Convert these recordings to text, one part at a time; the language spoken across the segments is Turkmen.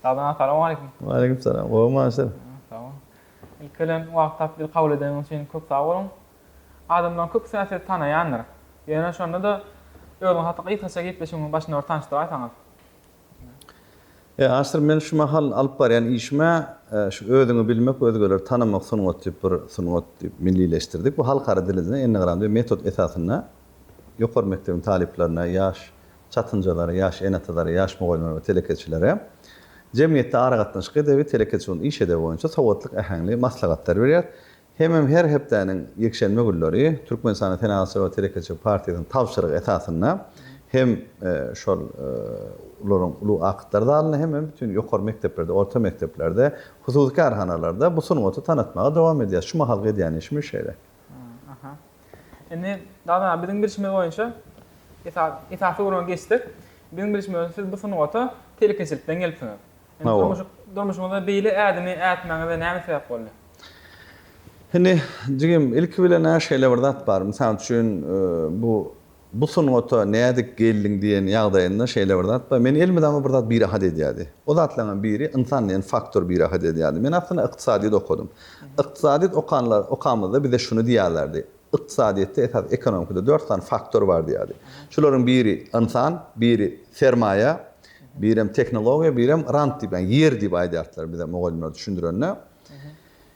Sagdyn Assalamualeýkum. Waleýkim salam. Gowmy Aşyr? Sag bol. Ilki bilen wagt tapyp bizi kabul edeniňiz üçin köp sag boluň. Adamlaryň köpüsine sizi tanaýandyr. Ýöne şonda-da özüňiz hakda gysgaça gepleşigimiziň başynda bir tanyşdyraýsaňyz. E, Aşyr men şu mahal alyp barýan işime şu özüňi bilmek, özgeleri tanamak sungaty diýip bir sungat diýip millileşdirdik. Bu halkara dilinde, ennegram diýip metod esasynda ýokary mekdebiň talyplaryna, ýaş çatynjalary, ýaş ene-atalary, ýaş mugallymlary we telekeçilere jemgyýetde aragatnaşyk edebi, telekeçi ugrunda iş edebi boýunça sowatlyk äheňli maslahatlar berýär. Hemem her hepdäniň ýekşenbe günleri Türkmenistanyň Senagatçylar we telekeçiler partiýasynyň tabşyrygy esasynda hem şol olaryň ulag akytlar zalynda hemem bütin ýokary mekdeplerde, orta mekdeplerde, hususy kärhanalarda bu sungaty tanatmaga dowam edýäris. Şu mahalky edýän işimiz şeýle. Aha. Indi Dana biziň bilşimiz boýunça esas esasy ugruňa geçsek, biziň bilşimiz boýunça siz bu sungata telekeçilikden gelipsiňiz. Durmuş durmuşyňyzda beýle ädimi ätmäňize näme sebäp boldy? Indi jigim ilki bilen-ä şeýle bir zat bar. Mysal üçin bu Bu sungata nädip geldiň diýen ýagdaýynda şeýle bir zat bar. Meni elimi dagyma bir zat birahat edýärdi. O zatlaryňam biri ynsan diýen faktor birahat edýärdi. Men aslynda ykdysadyýet okadym. Ykdysadyýet okanlar okamyzda bize şuny diýýärlerdi, Ykdysadyýetde esas ekonomikada dört sany faktor bar diýýärdi. Şularyň biri ynsan, biri sermaýa, birem tehnologiýa, birem rant diýip, ýagny ýer diýip aýdardylar bize mugallymlar düşündirende.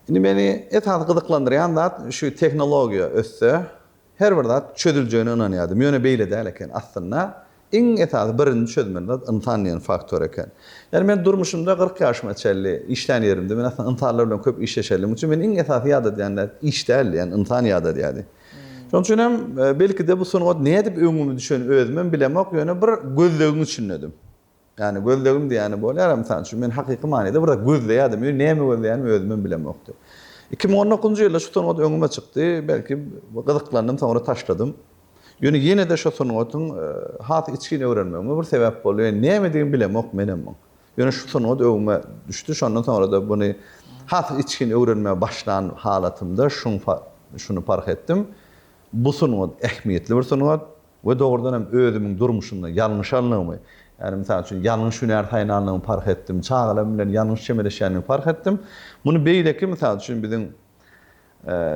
Indi meni esasy gyzyklandyrýan zat şu tehnologiýa össe, Her bir zat çözüljegine ynanýardym, ýöne beýle däl eken. Aslynda, iň esasy birinji çözmeli zat ynsan diýen faktor eken. Ýagny men durmuşymda kyrk ýaşyma çenli işlän ýerimde men aslynda ynsanlar bilen köp işleşenligim üçin meni iň esasy ýadadýan zat iş däldi, ýagny ynsan ýadadýardy. Şonuň üçin hem, belki-de, bu sungat nädip öňümi düşen özümem bilemok, ýöne bir gözlegiň içindedim. Ýagny gözlegim diýýäni bolýar-a, mysal üçin, men hakyky manyda biraz gözleýärdim, ýöne näme gözleýänimi özümem bilemokdy. Iki müň on dokuzynjy ýylda şu sungat öňüme çykdy, belki, gyzyklandym, soňra taşladym. Ýöne ýene-de şo sungatyň has içgin öwrenmegime bir sebäp boldy, ýöne nämedigini bilemok menem muň. Ýöne şu sungat öňüme düşdi, şondan soňra-da muny has içgin öwrenmäge başlan halatymda şuň şuny parh etdim, bu sungat ähmiýetli bir sungat. We dogrudan hem özümiň durmuşymda ýalňyş alnygymy, ýagny mysal üçin ýalňyş hünär saýlanlygymy parh etdim, çagalarym bilen ýalňyş çemeleşýänligi parh etdim. Muny beýleki mysal üçin biziň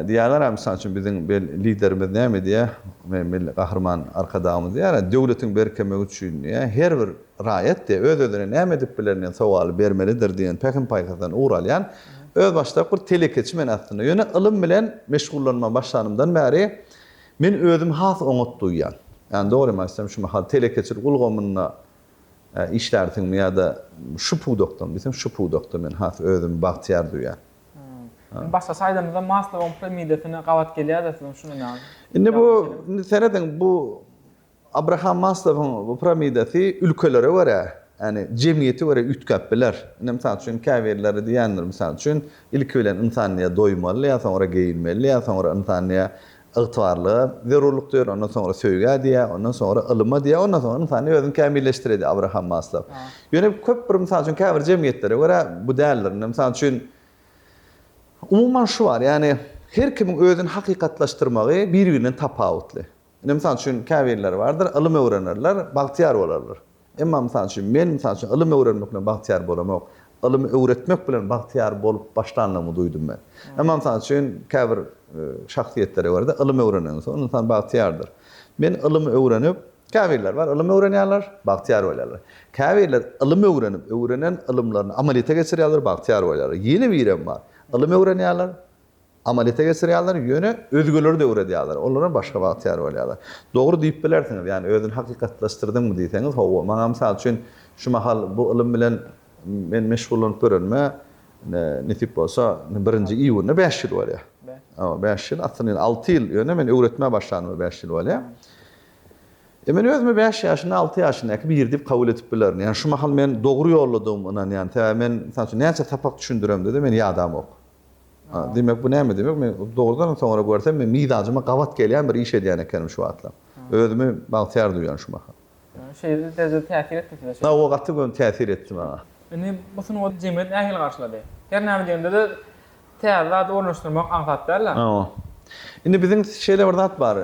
diýýärler a mysal üçin biziň liderimiz näme diýýär, me Milli Gahryman Arkadagymyz diýýär a döwletiň berkemegi üçin diýýär, her bir raýat diýýär, öz-özüne näme edip bilerin diýen sowaly bermelidir diýen pähim-paýhasdan ugur alýan özbaşdak bir telekeçi men aslynda. Ýöne ylym bilen meşgullanma başlanymdan bäri Men özümi has oňat duýýan. Ýagny dogrymy aýtsam şu mahal telekeçilik ulgamynda işlärsiňmi ýa-da şu pudakdamy diýseň şu pudakda men has özümi bagtyýar duýýan. Indi başgaça aýdamyzda Maslowyň piramidasine gabat gelýäris-de siziň şuny näme? Indi bu indi serediň bu Abraham Maslowyň bu piramidasy ülkelere görä, ýagny jemgyýete görä üýtgäp biler. Indi mysal üçin käbirleri diýendir, mysal üçin, ilki bilen ynsan diýýär doýmaly, ýa soňra geýinmeli, ýa soňra ynsan diýýär ygtybarlyga zerurlyk duýar, ondan soňra söýgä diýýär, ondan soňra ylyma diýýär, ondan soňra ynsan özüni kämilleşdirer diýýär Abraham Maslow. Ýöne köp bir mysal üçin käbir jemgyýetlere görä bu däldir. Indi mysal üçin umuman şu bar, ýagny her kimiň özüni hakykatlaşdyrmagy bir-birinden tapawutly. Ine, mysal üçin, käbirleri bardyr, ylym öwrenerler, bagtyýar bolarlar. Emma, mysal üçin, men, mysal üçin, ylym öwrenmek bilen bagtyýar bolamok. Ylym öwretmek bilen bagtyýar bolup başlandygymy duýdum men. Emma, mysal üçin, käbir şahsyýetlere görä-de, ylym öwrenenden soň ynsan bagtyýardyr. Men ylym öwrenip, käbirleri bar, ylym öwrenýärler, bagtyýar bolýarlar. Käbirleri ylym öwrenip, öwrenen ylymlaryny amalyýete geçirýärler, bagtyýar bolýarlar. Ýene birem bar, ylym öwrenýärler, Amalýete geçirýärler, ýöne özgeleri-de öwredýärler, olaram başga bagtyýar bolýarlar. Dogry diýip bilersiňiz, ýagny özüni hakykatlaşdyrdyňmy diýseňiz, hawa. Maňa mysal üçin şu mahal bu ylym bilen men meşgullanyp görenime, nesip bolsa, indi birinji iýunda bäş ýyl bolýar. Hawa, bäş ýyl, aslynda indi alty ýyl, ýöne men öwretmä başlanyma bäş ýyl bolýar. E, men özümi bäş ýaşynda, alty ýaşyndaky biri diýip kabul edip bilerin. Ýagny şu mahal men dogry ýoldadygyma ynanýan. Sebäbi men, mysal üçin, näçe sapak düşündiremde-de, meni ýadamok. Diýmek, bu näme diýmek? Men dogrudanam soňra görsem, men mizajyma gabat gelýän bir iş edýän ekenim şu wagtlar. Özümi bagtyýar duýýan şu mahal. Şeýle derejede täsir etdi size? Hawa, gaty göni täsir etdi maňa. Indi bu sungaty jemgyýet nähili garşylady? Her näme diýende-de täze zady ornaşdyrmak aňsat däl-ä? Hawa. Indi biziň şeýle bir zat bar.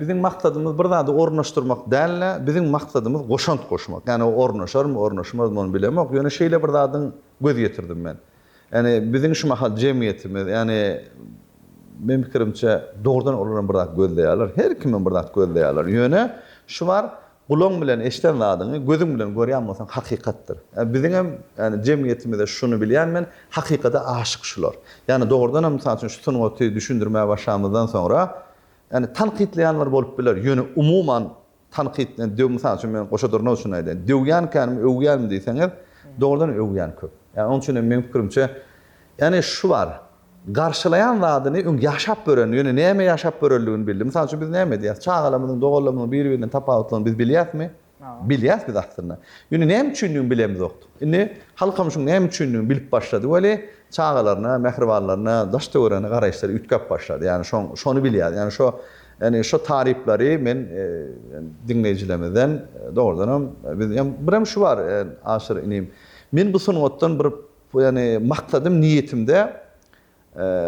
Biziň maksadymyz bir zady ornaşdyrmak däl-de, biziň maksadymyz goşant goşmak. Ýagny ornaşarmy, ornaşmazmy ony bilemok. Ýöne şeýle bir zadyň göz ýetirdim men. Ýagny biziň şu mahal jemgyýetimiz, ýagny meň pikirimçe dogrudan olaram bir zat gözleýärler. Her kimem bir zat gözleýärler. Ýöne şu bar, gulaň bilen eşden zadyňy gözüň bilen görýän bolsaň hakykatdyr. Ýa biziňem ýagny jemgyýetimizde şuny bilýän men, hakykada aşyk şular. Ýagny dogrudanam mysal üçin şu sungaty düşündirmäge başlamyzdan soňra ýagny tankytlaýanlar bolup biler, ýöne umuman Tankyt, men döw mysal üçin men goşa durnak üçin aýdaýyn. Döwýänkänim, öwýänim diýseňiz, dogrudan öwýän köp. Ýa onuň üçin hem meniň pikirimçe, ýagny şu bar, garşylaýan zadyny öň ýaşap gören, ýöne näme ýaşap görenligini bildi. Mysal üçin biz näme diýýäs? Çagalarymyzyň, doganlarymyzyň biri-birinden tapawutlygyny biz bilýäsmi? Bilýäs biz aslynda. Ýöne näme üçindigini bilemzokdyk. Indi halkymyz şuň näme üçindigini bilip başlady weli, çagalaryna, mähribanlaryna, daş-töweregine garaýyşlary üýtgäp başlady. Ýagny şoň, şony bilýär. Ýagny şo Ýagny şo taryplary men diňleýjilerimizden dogrudanam biz hem birem şu bar Aşyr inim men bu sungatdan bir ýagny maksadym niýetimde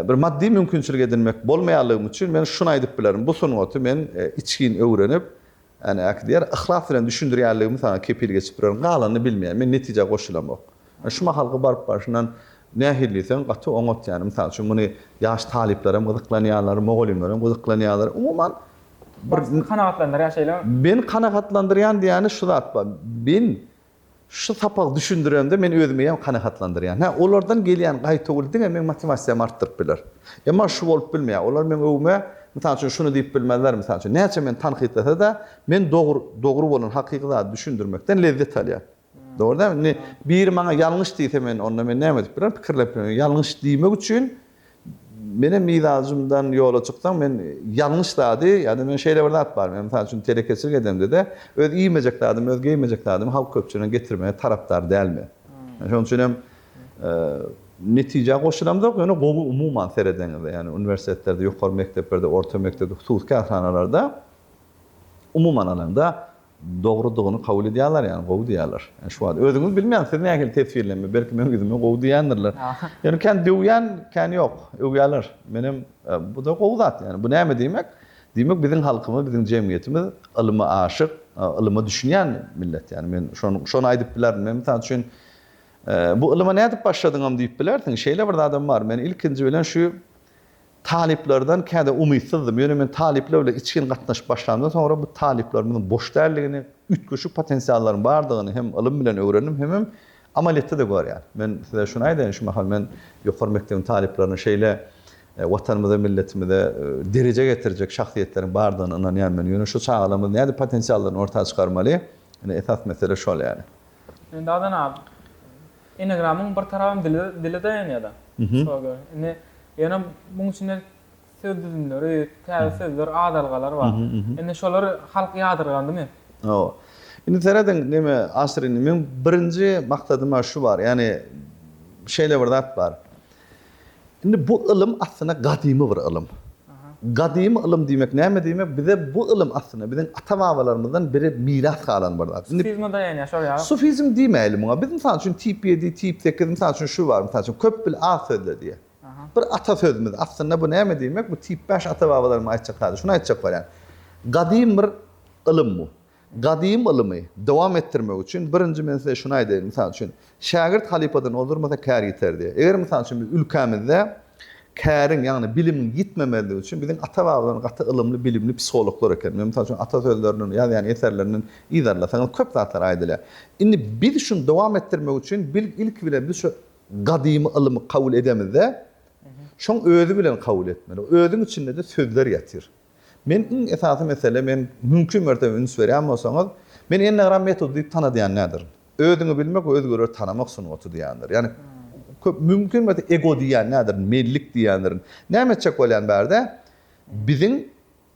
bir maddy mümkinçilik edinmek bolmaýanlygym üçin men şuny aýdyp bilerin bu sungaty men içgin öwrenip Äne, äkidýär. Yhlas bilen düşündirýänligimi saňa kepil geçip bilerin. Galanyny bilmeýän. Men netijä goşulamok. Ýöne şu mahalky baryp barşyndan nähili diýseň, gaty oňat ýaly. Mysal üçin, muny ýaş talyplaram gyzyklanýarlar, mugallymlaram gyzyklanýarlar. Umuman, bir. Bar, sizi kanagatlandyrýar şeýlemi? Meni kanagatlandyrýan diýýäni şu zat bar. Men Şu sapagy düşündirende men özümi ýa kanagatlandyrýan. Hä, olardan gelýän gaýtawul diňe meň motiwasiýamy artdyryp biler. Emma şu bolup bilmeýär. Olar meň öwüme, mysal üçin, şuny diýip bilmezler, mysal üçin, näçe meni tankytlasa-da, men dogry, dogry bolan, hakyky zady düşündirmekden lezzet alýan. Dogry dälmi? Indi biri maňa ýalňyş diýse, men onda men näme edip bilerin? Pikirlenip bilerin. Ýalňyş diýmek üçin Menem ilajymdan ýola çyksaň, men ýalňyş zady, ýa-da men şeýle bir zat bar, men mysal üçin telekeçilik edemde-de, öz iýmejek zadymy, öz geýmejek zadymy halk köpçüligine getirmegi tarapdar däl men. Men şonuň üçin hem netijä goşulamzok, ýöne gowy umuman seredeňizde, ýagny uniwersitetlerde, ýokary mekdeplerde, orta mekdepde, hususy kärhanalarda umuman alanda, dogrudygyny kabul edýärler ýagny gowy diýýärler. Ýa şu wagt özüňiz bilmeýäňiz siz nähili teswirlenme belki meň ýüzüme gowy diýýändirler. Ýöne kän döwýän kän ýok. Öwýärler. Menem buda gowy zat ýagny bu näme diýmek? Diýmek biziň halkymyz biziň jemgyýetimiz ylyma aşyk, ylyma düşünýän millet ýagny men şony şony aýdyp bilerin. Men mysal üçin bu ylyma nädip başladyňam diýip bilersiň. Şeýle bir zadam bar. Men ilkinji bilen şu Talyplardan kädä umytsyzdym, ýöne men talyplar bilen içgin gatnaşyp başlamdan soňra bu talyplarymyzyň boş däldigini, üýtgeşik potensiallaryň bardygyny hem ylym bilen öwrendim hemem amalyýetde-de görýän. Men size şuny aýdaýyn, şu mahal men ýokary mekdebiň talyplaryna şeýle Watanymyza, milletimize dereje getirjek şahsyýetleriň bardygyna ynanýan men. Ýöne şu çagalarymyz nädip potensiallaryny orta çykarmaly? Ine esas mesele şol ýaly. Indi Adanap. Enegramyň bir tarabam dile dile daýanýada. Şola görä. Indi ýöne muň içinde söz düzümleri, täze sözler, adalgalar bar. Indi şolary halk ýadyrgandymy? Hawa. Indi serediň neme Asyr indi meň birinji maksadym şu bar. Ýagny şeýle bir zat bar. Indi bu ylym aslynda gadymy bir ylym. Gadymy ylym diýmek näme diýmek? Bize bu ylym aslynda biziň ata-babalarymyzdan biri miras galan bir zat. Sufizme daýanýar şol ýa? Sufizm diýmäýli muňa. Biz mysal üçin tip ýedi, tip sekiz, mysal üçin şu bar, mysal üçin, köp bil, az sözle diýýär. Bir ata sözümiz. Aslynda bu näme diýmek? Bu tip bäş ata-babalarymyň aýtjak zady. Şuny aýtjak bolýan. Gadym bir ylym bu. Gadym ylymy dowam etdirmek üçin, birinji men size şuny aýdaýyn, mysal üçin, şägirt halypadan ozdurmasa kär ýiter diýýär. Eger, mysal üçin, biz ülkämizde käriň, ýagny bilimiň ýitmemezligi üçin biziň ata-babalarymyz gaty ylymly, bilimli psihologlar eken. Men, mysal üçin, ata sözlerinden, ýazýan eserlerinden yzarlasaňyz köp zatlar aýdylýar. Indi biz şuny dowam etdirmek üçin bil, ilki bilen biz şu gadymy ylymy kabul edemizde, şoň özi bilen kabul etmeli. Özüň içinde-de sözler ýatyr. Men iň esasy mesele men mümkin mertebe üns berýän bolsaňyz, men enneagram metody diýip tanadýan näderin? Özüňi bilmek we özgeleri tanamak sungaty diýýändir. Ýagny köp mümkin mertebe ego diýýän näderin, menlik diýýändirin. Näme etjek bolýan bärde? Biziň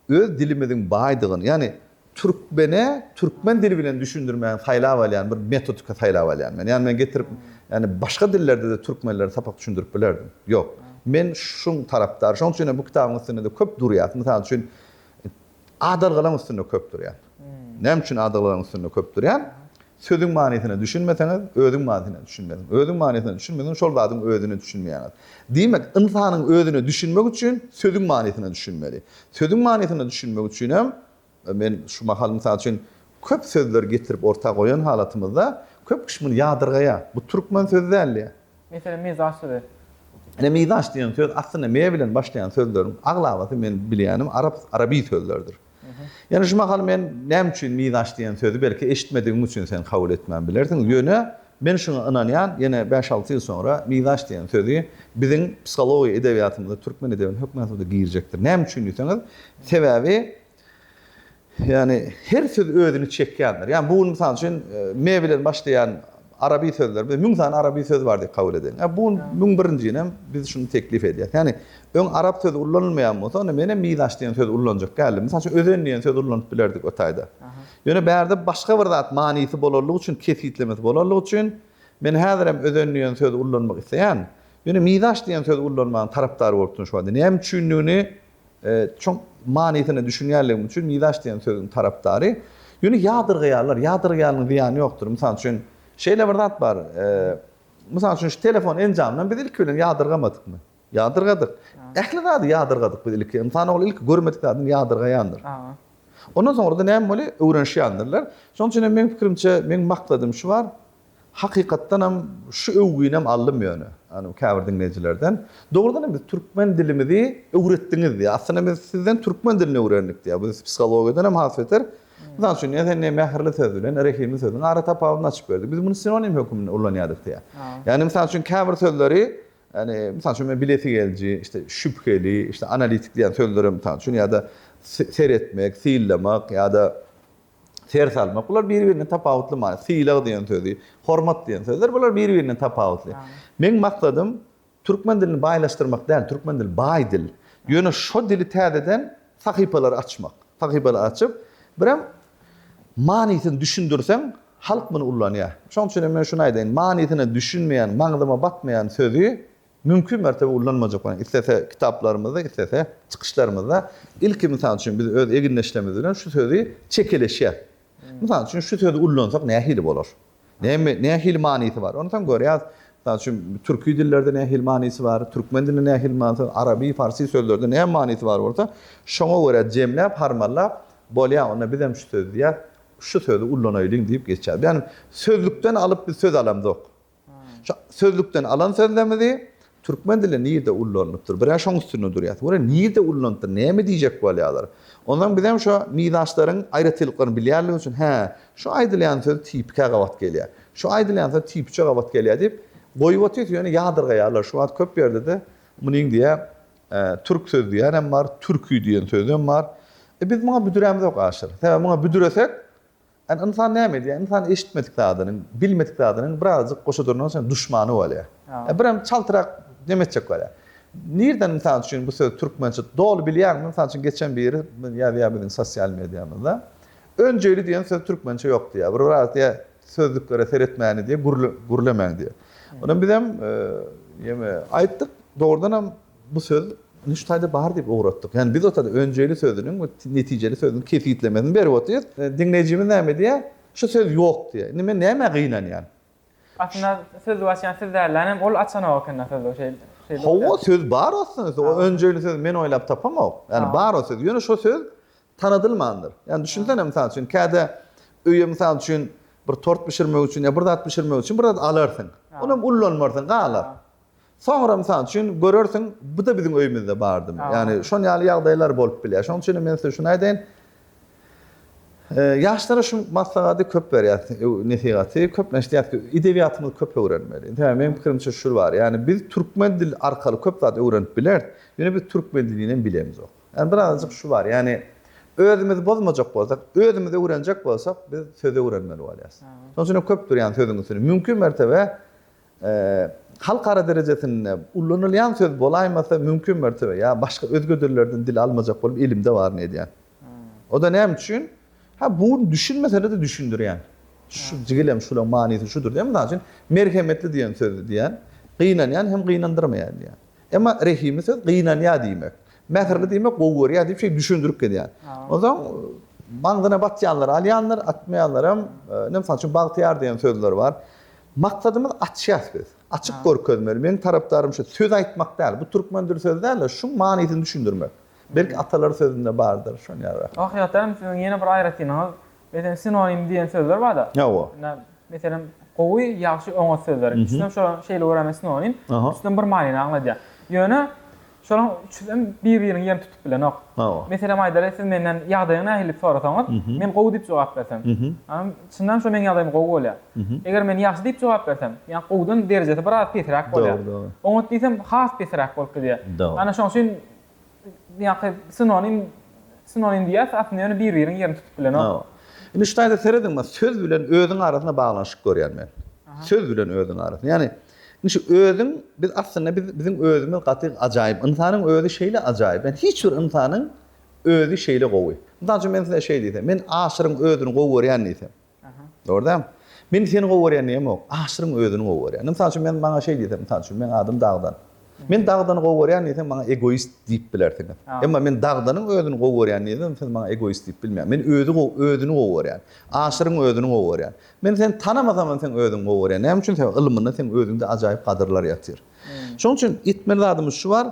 öz dilimiziň baýdygyny, ýagny Türkmene türkmen dili bilen düşündirmäni saýlap alýan bir metodika saýlap alýan men. Ýani men getirip, ýani başga dillerde-de türkmenlere sapak düşündirip bilerdim. Ýok. Men şuň tarapdary. Şoň üçin hem bu kitabyň üstünde-de köp durýar. Mysal üçin, adalgalaň üstünde köp durýar. Näme üçin adalgalaň üstünde köp durýar? Sözüň manysyna düşünmeseňiz, özüň manysyna düşünmezsiň. Özüň manysyna düşünmeseň, şol zadyň özüne düşünmeýäňiz. Diýmek, ynsanyň özüne düşünmek üçin sözüň manysyna düşünmeli. Sözüň manysyna düşünmek üçin hem Men şu mahal, mysal üçin, köp sözleri getirip orta goýan halatymyzda, köp kişi muny ýadyrgaýar. Bu türkmen sözi däl diýýär. Meselem, mizaç sözi. Ine, mizaç diýen söz, aslynda me bilen başlaýan sözleriň aglabasy men bilýänim arap, arabi sözlerdir. Ýöne şu mahal men näme üçin mizaç diýen sözi belki eşitmedigiň üçin sen kabul etmän bilersiň. Ýöne Men şuňa ynanýan, ýene bäş-alty ýyl soňra Mizaç diýen sözi biziň psihologiýa edebiýatymyza, türkmen edebiýatyna hökman suratda girjekdir. Näme üçin diýseňiz, sebäbi, ýagny her söz özüni çekýändir. Ýagny bu gün mysal üçin me bilen başlaýan arabi sözler, biz müň sany arabi söz bar diýip kabul edeliň. Bu gün müň birinjinem biz şuny teklip edýäs. Ýagny öň arap sözi ullanylmaýan bolsa, onda menem Mizaç diýen sözi ullanjak däldim. Mysal üçin özen diýen sözi ulanyp bilerdik o taýda. Ýöne bärde başga bir zat manysy bolanlygy üçin, kesgitlemesi bolanlygy üçin, men häzirem özen diýen sözi ullanmak isleýän. Ýöne mizaç diýen sözi ullanmagyň tarapdary bolupdyryn şu wagta. Näme üçindigini çuň manysyna düşünýänligim üçin mizaç diýen sözüň tarapdary. Ýöne ýadyrgaýarlar. Ýadyrgaýanyň zyýany ýokdur. Mysal üçin, şeýle bir zat bar. Mysal üçin, şu telefon enjamyndan biz ilki bilen ýadyrgamadykmy? Ýadyrgadyk. Ähli zady ýadyrgadyk biz ilki. Ynsan ogly ilki görmedik zadyny ýadyrgaýandyr. Ondan soňra-da näme boly, öwrenişýändirler. Şonuň üçin hem meň pikirimçe, meň maksadym şu bar, hakykatdanam şu öwginem aldym ýöne, ýagny käbir diňleýjilerden. Dogrudan hem biz türkmen dilimizi öwretdiňiz diýýär. Aslynda biz sizden türkmen dilini öwrendik diýýär. Bu psihologiýadan hem has beter. Mysal üçin, sen diýýär, mähirli söz bilen rehimli sözüň ara tapawudyny açyp berdik. Biz muny sinonim hökmünde ulanýardyk diýýär. Ýagny, mysal üçin, käbir sözleri Ýagny, mysal üçin, men bilesigeliji, işte, şübheli, işte, analitik diýen sözlerem, mysal üçin, ýa-da seretmek, syllamak ýa-da ser salmak, bular bir-birinden tapawutly many. Sylag diýen sözi, hormat diýen sözler, bular bir-birinden tapawutly. Meň maksadym türkmen dilini baýlaşdyrmak däl, türkmen dili baý dil. Ýöne şo dili täzeden Sahypalary açmak. Sahypalary açyp, birem manysyny düşündirseň, halk muny ullanýar. Şoň üçin hem men şuny aýdaýyn, manysyna düşünmeýän, maňzyma batmaýan sözi mümkin mertebe ullanmajak bolaýyn. Islese kitaplarymyzda, islese çykyşlarymyzda. Ilki, mysal üçin, biz öz egindeşlerimiz bilen şu sözi çekeleşýäs. Mysal üçin, şu sözi ullansak nähili bolar? Näme, nähili manysy bar? Ony soň görýäs. Mysal üçin, türki dillerde nähili manysy bar, türkmen dilinde nähili manysy bar, araby, farsy sözlerde näme manysy bar bolsa, şoňa görä jemläp, harmanlap, bolýa, onda bizem şu sözi diýýäs, şu sözi ullanaýlyň diýip geçýäs. Ýagny sözlükden alyp biz söz alamzok. Şu sözlükden alan sözlerimizi Türkmen dili nirde ullanylypdyr? Birä şoň üstünde durýas. Görä nirde ullanypdyr, näme diýjek bolýarlar. Onsoň bizem şo nidaşlaryň aýratynlyklaryny bilýänlik üçin, hä, şu aýdylýan söz tipikä gabat gelýä, şu aýdylýan söz tipiçe gabat gelýä diýip, goýup otyrys, ýöne ýadyrgaýarlar. Şu wagt köp ýerde-de munyň diýä türk sözi diýýänem bar, türki diýen sözem bar. E, biz muňa büdürämizok aşyr. Sebäbi muňa büdüresek, Ýani ynsan näme edýär? Ynsan eşitmedik zadynyň, bilmedik zadynyň birazjyk goşa durandan soň duşmany bolýar. Birem çaltyrak neme etjek bolýar. Nirden mysal üçin bu söz türkmençe doly bilýäňmi? Mysal üçin geçen biri ýazýar biziň sosial mediamyzda. Önjeýli diýen söz türkmençe ýok diýýär. Bir biraz diýýär sözlüklere seretmäni diýýär, gürlemäň diýýär. Onam bizem ýeme aýtdyk. Dogrudanam Bu söz Nüştaýda bar diýip ugratdyk. Ýagny biz otyrda önjeýli sözüniň we netijeli sözüniň kesgitlemesini berip otyrys. Diňleýjimiz näme diýýär? Şu söz ýok diýýär. Indi men nämä gynanýan? Aslynda sözi açýan siz dälläň hem ol açanok ekenda sözi şeýdip. Hawa söz bar aslynda. O önjeýli sözi men oýlap tapamok. Ýagny bar o söz. Ýöne şo söz tanadylmandyr. Ýagny düşünsene mysal üçin käte öýe mysal üçin bir tort bişirmek üçin ýa bir zat bişirmek üçin bir zat alarsyň. Olam ullanmarsyň galar. Soňra, mysal üçin, görersiň, bu-da biziň öýümizde bardymy? Ýagny, şon ýaly ýagdaýlar bolup bilýär. Şonuň üçin hem men size şuny aýdaýyn, ýaşlara şu maslahady köp berýäs, nesihaty. Köplenç diýýäs ki, edebiýatymyzy köp öwrenmeli. Sebäbi meniň pikirimçe şu bar, ýagny biz türkmen dili arkaly köp zat öwrenip bileris, ýöne biz türkmen dilini hem bilemizok. Ýagny birazajyk şu bar, ýagny özümizi bozmajak bolsak, özümizi öwrenjek bolsak, biz söz öwrenmeli bolýarys. Şonuň üçin hem köpdür ýagny sözüň üstüni. Mümkin mertebe Halkara derejesinde ulanylýan söz bolaýmasa, mümkin mertebe ýa başga özge dillerden dil almajak bolup elimde baryny edýän. O-da näme üçin? Hä, bu düşünmesede-de düşündirýän. Şu jigilem şulaň manysy şudur diýen. Mysal üçin, merhemetli diýen sözi diýen, gynanýan hem gynandyrmaýan diýen. Emma rehimli söz gynanýar diýmek. Mähirli diýmek gowy görýär diýip şeýdip düşündirip gezýän. Onsoň maňzyna batýanlar alýandyr, atmaýanlaram, ine, mysal üçin, bagtyýar diýen sözler bar. Maksadymyz açýas biz. Açyk görkezmeli. Meniň tarapdarym şu söz aýtmak däl. Bu türkmen dil sözi dälde şuň manysyny düşündirmek. Belki atalar sözünde bardyr şony ýa-da. Hakykatdanam siziň ýene bir aýratynlygyňyz meselem sinonim diýen sözler barda. Hawa. Meselem gowy, ýagşy, oňat sözler. Ikisinem şolar şeýle görýän men sinonim. Üçüsinem bir manyny aňladýar. Ýöne Şolaň üçüsem bir-biriňi ýem tutup bilenok. Hawa. Meselem aýdaly, siz menden ýagdaýyň nähili diýip sorasaňyz, men gowy diýip jogap bersem, çyndanam şo meň ýagdaýym gowy bolýar. Eger men ýagşy diýip jogap bersem, ýa gowudan derejesi biraz pesiräk bolýar. Dogry, dogry. Oňat diýsem, has pesiräk bolup gidýär. Dogry. Ana şoň üçin ýa-ha sinonim, sinonim diýýäs, aslynda ýöne bir-biriň ýerini tutup bilenok. Hawa. Indi şu taýda serediň, söz bilen özüň arasynda baglanyşyk görýän men. Söz bilen özüň arasynda. Ýagny, Indi şu özüň biz aslynda biz biziň özümiz gaty ajaýyp. Ynsanyň özi şeýle ajaýyp. Ýani hiç bir ynsanyň özi şeýle gowy. Mysal üçin men size şeý diýsem, men Aşyryň özüni gowy görýän diýsem. Dogryda? Men seni gowy görýän diýemok. Aşyryň özüni gowy görýän. Indi mysal üçin men maňa şeý diýsem, mysal üçin, meň adym Dagdan. Men Dagdany gowy görýän diýseň, maňa egoist diýip bilersiňiz. Emma men Dagdanyň özüni gowy görýän diýsem, siz maňa egoist diýip bilmeýäňiz. Men özi gowy, özüni gowy görýän. Aşyryň özüni gowy görýän. Men seni tanamasamam seň özüňi gowy görýän. Näme üçin? Sebäbi ylmynda seň özüňde ajaýyp gadyrlar ýatyr. Şonuň üçin etmeli zadymyz şu bar,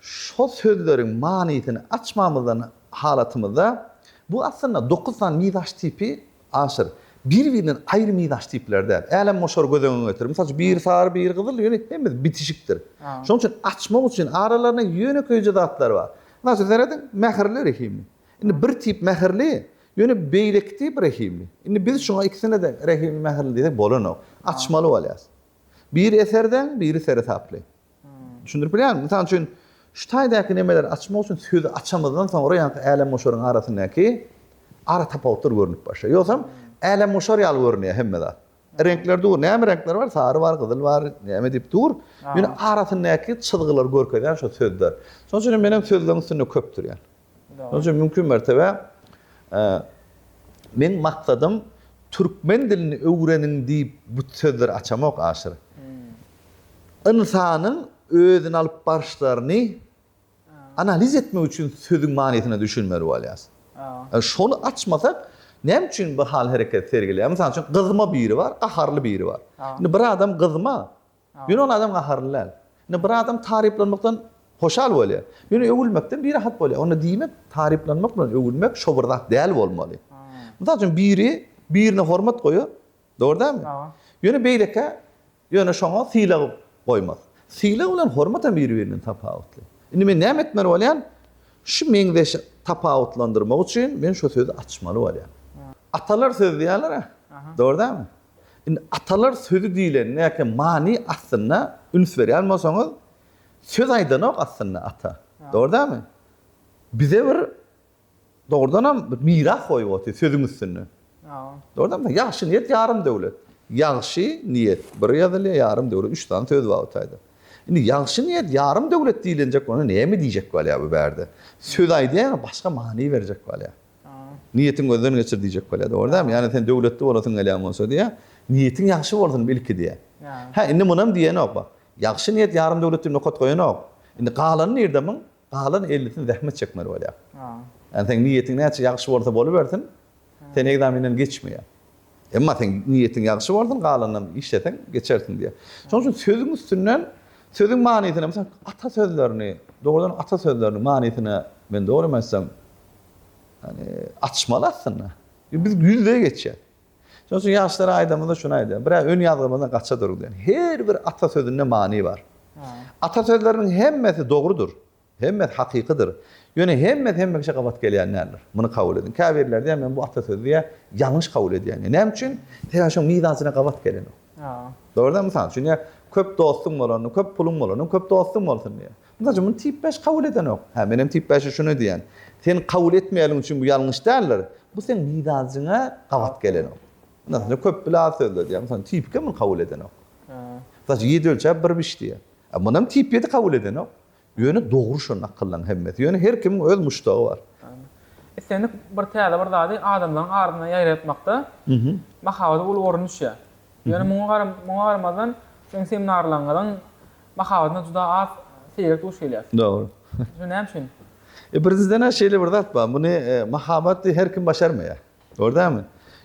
şo sözleriň manysyny açmamyzdan halatymyzda, bu aslynda dokuz sany mizaç tipi Aşyr. Bir-birinden aýry mizaç tipleri däl. Älemgoşary göz öňüňe getir. Mysal üçin, biri sary, biri gyzyl, ýöne hemmesi bitişikdir. Şonuň üçin açmak üçin aralarynda ýönekeýje zatlar bar. Mysal üçin, serediň, mähirli, rehimli. Indi bir tip mähirli, ýöne beýleki tipi rehimli. Indi biz şuňa ikisine-de rehimli, mähirli diýsek bolanok. Açmaly bolýarys. Biri eserdeň, biri seresaply. Düşündirip bilýärmi? Mysal üçin, şu taýdaky nemeleri açmak üçin sözi açamyzdan soňra ýaňky älemgoşaryň arasyndaky ara tapawutlar görnüp başlaýar. Ýogsam, älemgoşar ýaly görünýär hemme zat. Reňkler dur, näme reňkler bar? Sary bar, gyzyl bar, näme diýip dur. Ýöne arasyndaky çyzgylary görkezýän şo sözler. Şonuň üçin hem men hem sözleriň üstünde köp durýan. Şonuň üçin mümkin mertebe meň maksadym türkmen dilini öwreniň diýip bu sözleri açamok aşyr. Ynsanyň özüni alyp baryşlaryny analiz etmek üçin sözüň manysyna düşünmeli bolýas. Şony açmasak näme üçin bu hal-hereket sergileýär? Mysal üçin gyzma biri bar, gaharly biri bar. Indi bir adam gyzma, Ýöne ol adam gaharly däl. Indi bir adam taryplanmakdan hoşal bolýar. Ýöne öwülmekden birahat bolýar. Onda diýmek, taryplanmak bilen öwülmek şo bir zat däl bolmaly. Mysal üçin, biri birine hormat goýar, dogry dälmi? Ýöne beýlekä ýöne şoňa sylag goýmaz. Sylag bilen hormat hem biri-birinden tapawutly. Indi men näme etmeli bolýan? Şu meňzeş tapawutlandyrmak üçin men şo sözi açmaly bolýan. Atalar söz diýýärler-ä, dogry dälmi? Indi atalar sözi diýlenindäki many aslynda üns berýän bolsaňyz, söz aýdanok aslynda ata. Dogry dälmi? Bize bir dogrudanam bir miras goýup otyr sözüň üstünde. Dogry dälmi? Ýagşy niýet ýarym döwlet. Ýagşy niýet bir ýazylýar, ýarym döwlet üç sany söz bar bu taýda. Indi ýagşy niýet ýarym döwlet diýlenjek bolanda näme diýjek bolýar bu bärde? Söz aýdýan başga many berjek bolýar. Niýetiňi gözden geçir diýjek bolýar, dogry dälmi? Ýagny sen döwletli bolasyň gelýän bolsa diýýär. Niýetiň ýagşy bolsun ilki diýýär. Hä, indi munam diýenok, bak. Ýagşy niýet ýarym döwlet diýip nokat goýanok. Indi galany nirde muň? Galan ellisini zähmet çekmeli bolýar. Ýagny seň niýetiň näçe ýagşy bolsa bolubersin, sen ekzamenden geçmeýär. Emma seň niýetiň ýagşy bolsun, galanynam işleseň, geçersiň diýýär. Şonuň üçin sözüň üstünden sözüň manysyny, meselem, ata sözlerini, dogrudan ata sözleriniň manysyny, men dogrymy aýtsam, ýani, açmaly aslynda. Ýöne biz ýüzbe-ýüz geçýäs. Şonuň üçin ýaşlara aýdamyzda şuny aýdýarys, Birä öňýazgymyzdan gaça durguzýan. Her bir ata sözünde many bar. Ata sözleriniň hemmesi dogrudyr. Hemmesi hakykydyr. Ýöne hemmesi hememişe gabat gelýän däldir. Muny kabul ediň. Käbirleri diýýär, men bu atasözi diýýär, ýalňyş kabul edýän diýýär. Näme üçin? Sebäbi şoň mizançyna gabat gelenok. Dogrudan, mysal üçin, diýýär, köp dostuň bolanda, köp puluň bolanda, köp dostuň bolsun diýýär. Mysal üçin, muny tip bäş kabul edenok. Hä, menem tip bäşe şuny diýýän. Sen kabul etmeýänligiň üçin bu ýalňyş däldir. Bu seň mizançyňa gabat gelenok. Ynha, şunda köp bile az sözde diýýär. Mysal üçin, tipkem muny kabul edenok. Mysal üçin, ýedi ölçäp bir biç diýýär. Muny hem tip ýedi kabul edenok. Ýöne dogry şon akyllaň hemmesi. Ýöne her kimiň öz muşdagy bar. Islendik bir täze bir zady adamlaryň arasynda ýaýratmakda mahabata uly orun düşýär. Ýöne muňa muňa garamazdan siziň seminarlaryňyzyň mahabatyna juda az seýrek duş gelýäs. Dogry. Şu näme üçin? E birinjiden-ä şeýle bir zat bar. Muny mahabaty her kim başarmaýar. Gördäňmi?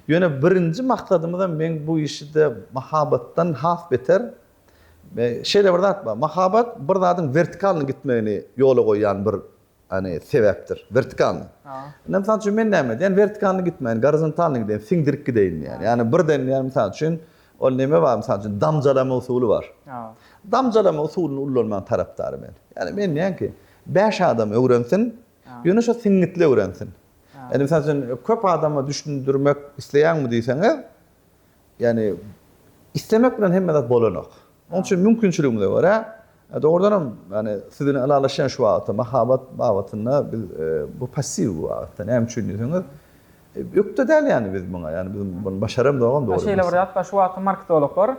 Ýöne birinji maksadymyzam meň bu işi-de mahabatdan has beter Şeýle bir zat bar. Mahabat bir zadyň wertikalnyý gitmegini ýola goýýan bir hani sebäpdir. Wertikalnyý. Indi mysal üçin men näme edýän? Wertikalnyý gitmäýin, gorizontalnyý gideýin, siňdirip gideýin diýýän. Ýagny birden ýa mysal üçin ol neme bar mysal üçin damjalama usuly bar. Damjalama usulyny ullanmagyň tarapdary men. Ýagny men diýýän ki, bäş adam öwrensin, ýöne şo siňňitli öwrensin. Indi mysal üçin köp adama düşündirmek isleýäňmi diýseňiz, Ýagny, islemek bilen hemme zat bolanok. Onuň üçin mümkinçiligiňize görä, dogrudan hem, ýagny, siz bilen ylalaşýan şu wagtda mahabat babatynda biz bu passiw bu babatda. Näme üçin diýseňiz, ökde däl ýagny biz muňa. Ýagny, biz muny başaramzogam dogry. Şeýle bir zat bar, şu wagtky marketologlar,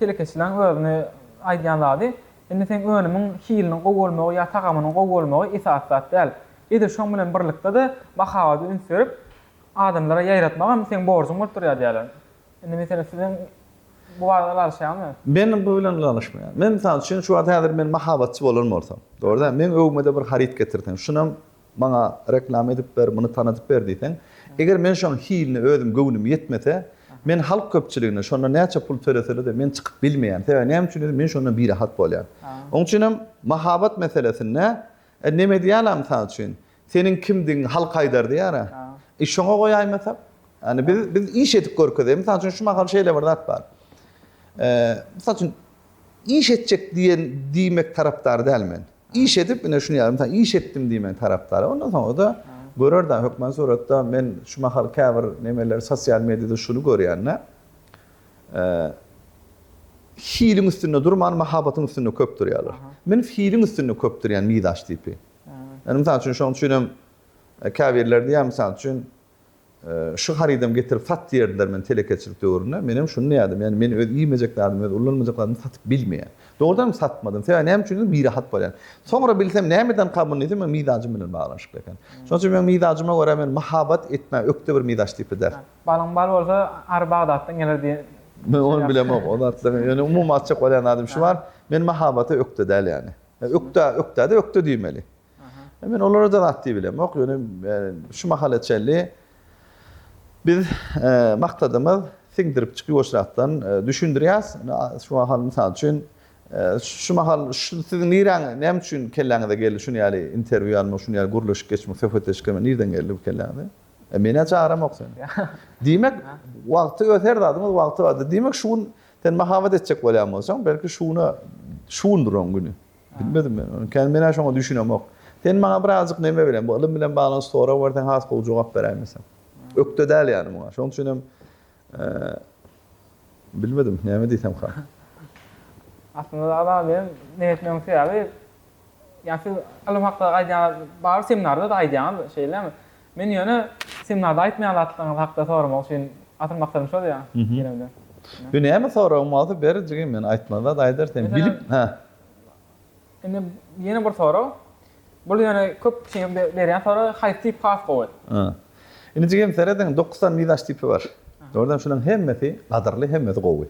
telekeçileriň özüni aýdýan zady, indi seň önümiň hiliniň gowy bolmagy ýa tagamynyň gowy bolmagy esasy zat däl. Edil şoň bilen birlikde-de mahabada üns berip, Adamlara ýaýratmagam seň borjuň bolup durýar diýýärler. Indi meselem siziň bu barada ylalaşýaňyzmy? Men bu bilen ylalaşmaýan. Men mysal üçin şu wagt häzir men mahabatçy bolan bolsam, dogry däl, meň öwgüme-de bir haryt getirseň, şunam maňa reklama edip ber, muny tanadyp ber diýseň, eger men şoň hiline özüm göwnüm ýetmese, men halk köpçüligine şondan näçe pul töleseler-de men çykyp bilmeýän. Sebäbi näme üçin diýseň, men şondan birahat bolýan. Oň üçinem mahabat meselesinde, e, neme diýýärler mysal üçin, Seniň kimdigiňi halk aýdardy ýara. E şoňa goýaýmasak? Ýani biz biz iş edip görkezeýin. Mysal üçin şu mahal şeýle bir zat bar. E, mysal üçin iş etjek diýen diýmek tarapdary däl men. Iş edip ine şuny ýa mysal iş etdim diýmegiň tarapdary. Ondan soňra-da görer-de hökman suratda men şu mahal käbir nemeler sosial mediýada şuny görýän-de. E, hiliň üstünde durman mahabatyň üstünde köp durýarlar. Men hiliň üstünde köp durýan mizaç tipi. Indi mysal üçin şoň üçin hem käbirler diýýär mysal üçin şu harydam getirip sat diýerdiler men telekeçilik döwründe. Men hem şuny diýerdim. Ýani men öz iýmejek zadymy, öz ulanmajak zadymy satyp bilmeýän. Dogrudan hem satmadym. Sebäbi näme üçindir birahat bolýan. Soňra bilsem näme eden kabyn diýsem meň mizajym bilen baglanyşykly eken. Şoň üçin meň mizajyma görä men mahabat etmän ökde bir mizaç tipi däl. Balyň bal bolsa ary Bagdatdan geler diýen. Men ony bilemok. Ony atlaň. Ýöne umumy aýtjak bolýan zadym şu bar. Men mahabata ökde däl ýani. Ökde, ökdä-de ökde diýmeli. Men olara-da zat diýip bilemok. Ýöne şu mahala çenli biz maksadymyz siňdirip çykyp oşrakdan düşündirýäs. Şu mahal mysal üçin şu mahal şu siziň niräň näme üçin kelläňize geldi şuny ýaly interwýu almak, şuny ýaly gürleşik geçmek, söhbetdeşlik etmek nirden geldi bu kelläňize? Menä çagram ýok seniň. Diýmek wagty öz her zadyň öz wagty bardyr. Diýmek şu gün Sen mahabat etjek bolýan bolsaň, belki şuna şundur oň güni. Bilmedim men ony. Kän men-ä şoňa düşünemok. Sen maňa birazjyk neme bilen, bu ylym bilen baglanyşyk sorag berseň has gowy jogap beräýmeseň. Ökde däl ýani muňa. Şoň üçin hem bilmedim, näme diýsemka. Aslynda dagy saňa men neme etmegiň sebäbi, ýa siz ylym hakda aýdýaňyz, barybir seminarda-da aýdýaňyz, şeýlemi? Men ýöne siziň nada aýtmaýan zatlaryňyz hakda soramak üçin asyl maksadym şol ýa ýöne. Ýöne näme soragyň bolsa ber jigim men aýtmaly zat aýdar sen bilip hä. Indi ýene bir sorag. Bul ýöne köp kişiň berýän soragy haýsy tip has gowy. Hä. Indi jigim serediň dokuz sany mizaç tipi bar. Dogrudan şularyň hemmesi gadyrly hemmesi gowy.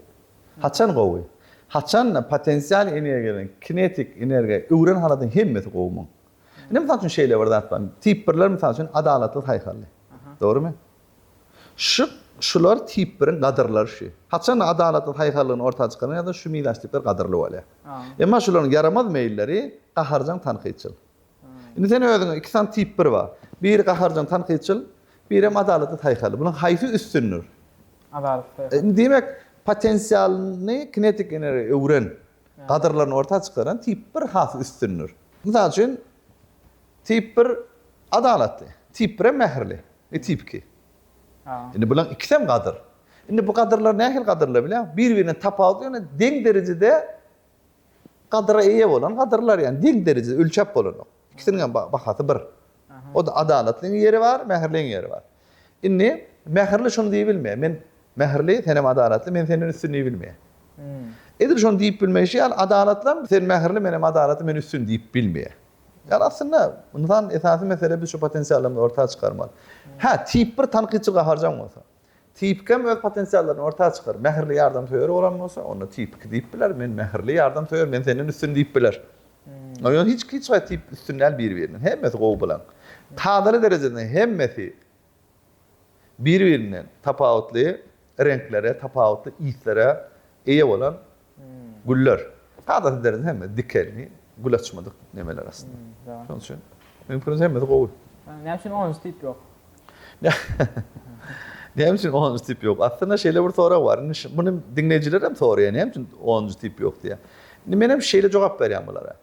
Haçan gowy? Haçan potensial energiýadan kinetik energiýa öwren halatyň hemmesi gowy muň. Indi mysal üçin şeýle bir zat bar. Tip birler mysal üçin adalatly saýhally. Dogrymy? Şu şular tip biriň gadyrlary şu. Haçan adalatly saýhallygyny orta çykaran ýa-da şu mizaçtipler gadyrly bolýar. Emma şularyň ýaramaz meýilleri gaharjaň tankytçyl. Indi sen özüňe iki sany tip bir bar. Biri gaharjaň tankytçyl, birem adalatly saýhally. Bularyň haýsy üstündir? Adalatly saýhally. Indi diýmek, potensialyny kinetik energiýa öwren. Gadyrlaryny orta çykaran tip bir has üstündir. Mysal üçin, tip bir adalatly, tip bir hem mähirli we tip iki. Indi bularyň ikisem gadyr. Indi bu gadyrlar nähili gadyrlar bilýäňmi? Bir-birinden tapawutly, ýöne deň derejede gadyra eýe bolan gadyrlar, ýagny deň derejede ölçäp bolanok. Ikisiniň hem bahasy bir. O-da adalatlyň ýeri bar, mähirliň ýeri bar. Indi mähirli şuny diýip bilmeýär, men mähirli, senem adalatly, men senden üstün diýip bilmeýär. Edil şony diýip bilmeýşi ýaly, adalatlam sen mähirli, menem adalatly, men üstün diýip bilmeýär. Ýagny aslynda ynsan esasy mesele biz şu potensiallarymyzy orta çykarmaly. Hä, tip bir tankytçy gaharjaň bolsa. Tipik hem öz potensiallaryny orta çykaryp, mähirli ýardamsöýer bolan bolsa, onda tipik diýip biler, men mähirli ýardamsöýer, men senden üstün diýip biler. Ýöne hiç hiç haýsy tip üstün däl biri-birinden. Hemmesi gowy bilen. Tazyly derejesinde hemmesi biri-birinden tapawutly reňklere, tapawutly yslere eýe bolan Güller. Sada sizleriň hemmesi dikelni, gül açmadyk nemeler aslynda. Şonuň üçin meniň pikirimçe hemmesi gowy. Näme üçin onunjy tip ýok? Näme üçin onunjy tip ýok? Aslynda şeýle bir sorag bar. Indi muny diňleýjiler hem soraýar, näme üçin onunjy tip ýok diýýär. Indi men hem şeýle jogap berýän bulara.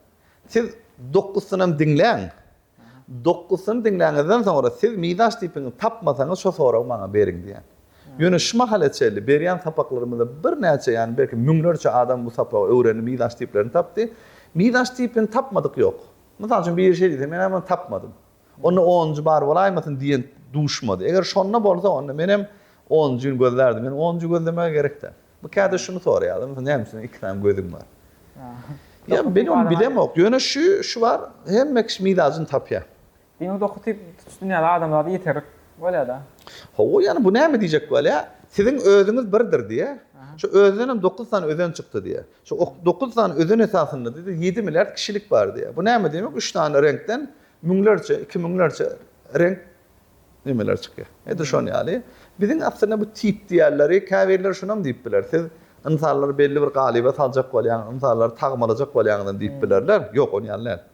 Siz dokuz synam diňläň. Dokgusyny diňläňizden soňra siz mizaç tipiňizi tapmasaňyz şo soragy maňa beriň diýen. Ýöne şu mahala çenli berýän sapaklarymyzda birnäçe ýany belki müňlerçe adam bu sapagy öwrendi mizaç tiplerini tapdy. Mizaç tipini tapmadyk ýok. Mysal üçin biri şeý diýse men-ä muny tapmadym. Onda onunjy bar bolaýmasyn diýen duşmady. Eger şonda bolsa onda menem onunjyny gözlärdim. Ýöne onunjy gözlemäge gerek däl. Bu käde şuny soraýarlar, Mysal näme üçin iki sany gözüň bar? Ýa men ony bilemok. Ýöne şu şu bar, hemme kişi mizacyny tapýar. Diňe doky typ tutuş dünýäde adam zady ýeterik bolýar-da. Hawa, ýöne bu näme diýjek bolýar, siziň özüňiz birdir diýýär. Şu özünenem dokuz sany özen çykdy diýýär. Şu dokuz sany özen esasynda diýdi, ýedi milliard kişilik bar diýýär. Bu näme diýmek, üç sany reňkden müňlerçe, iki müňlerçe reňk Nämeler çykýar? Edil şon ýaly, biziň aslynda bu tip diýerleri, käbirleri şunam diýip biler, siz ynsanlary belli bir galyba saljak bolýaňyz, ynsanlary tagmalajak bolýaňyzam diýip bilerler. Ýok, ony ýaly däl.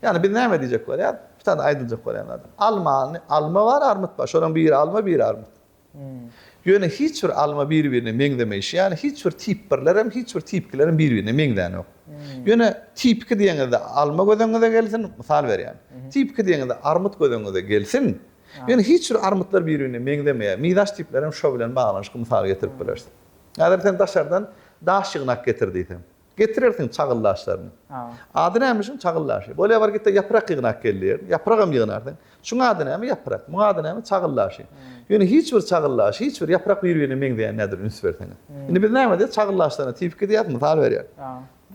Ýagny biz näme diýjek bolýar? Bitada aýdyljak bolýan zat, almany, alma bar, armyt bar. Şolaryň biri alma, biri armyt. Ýöne hiç bir alma bir-birine meňzemeýşi ýaly, hiç bir tip birler hem, hiç bir tip ikiler hem bir-birine meňzänok. Ýöne tip iki diýeňizde alma göz öňüňize gelsin, mysal berýän. Tip iki diýeňizde armyt göz öňüňize gelsin. Ýöne hiç bir armytlar bir-birine meňzemeýär. Mizaç tipler hem şo bilen baglanyşykly mysal getirip bileris. Häzir sen daşardan daş ýygnak getir diýseň. Getirersiň çagyl daşlaryny. Ady näme şuň çagyl daşy? Bolýa bar git-de ýaprak ýygna akyl diýerdim. Ýapragam ýygnarsyň. Şuň ady näme? Ýaprak. Muň ady näme? Çagyl daşy. Ýöne hiç bir çagyl daşy, hiç bir ýaprak bir-birine meňzeýän däldir, üns berseňiz. Indi biz näme diýýäs? Çagyl daşlaryna tip iki diýýäs, mysal berýän.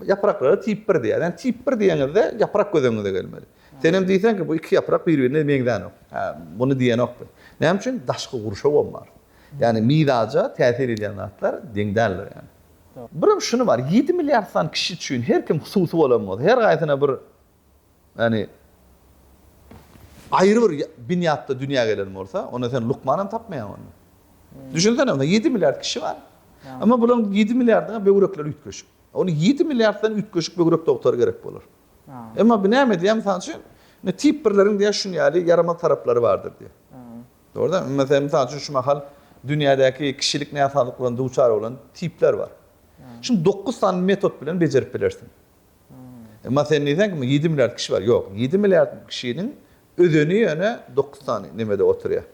Ýapraklara tip bir diýýäs. Ýani tip bir diýeňizde ýaprak göz öňüňize gelmeli. Senem diýseň ki, bu iki ýaprak bir-birine meňzänok. Hä, muny diýenokdy. Näme üçin? Daşky gurşawam bar. Ýani mizaja täsir edýän zatlar deň däldir ýani. Birem şuny bar, ýedi milliard sany kişi üçin her kim hususy bolan bolsa, her haýsyna bir, ýagny, aýry bir binýatda dünýä gelen bolsa, onda sen lukman hem tapmaýaň onda. Düşünsene, onda ýedi milliard kişi bar. Emma bularyň ýedi milliardyna böwrekleri üýtgeşik. Onda ýedi milliarddan üýtgeşik böwrek dogtary gerek bolar. Emma bu näme diýýär, mysal üçin, indi tip birleriň diýýär şuny ýaly ýaramaz taraplary bardyr diýýär. Dogrudanam, meselem, mysal üçin, şu mahal dünýädäki kişilik näsazlyklaryna duçar bolan tipler bar. Şuny dokuz sany metod bilen bejerip bilersiň. Emma sen diýseňki, ýedi milliard kişi bar. Ýok, ýedi milliard kişiniň özeni ýöne dokuz sany nemede oturýar.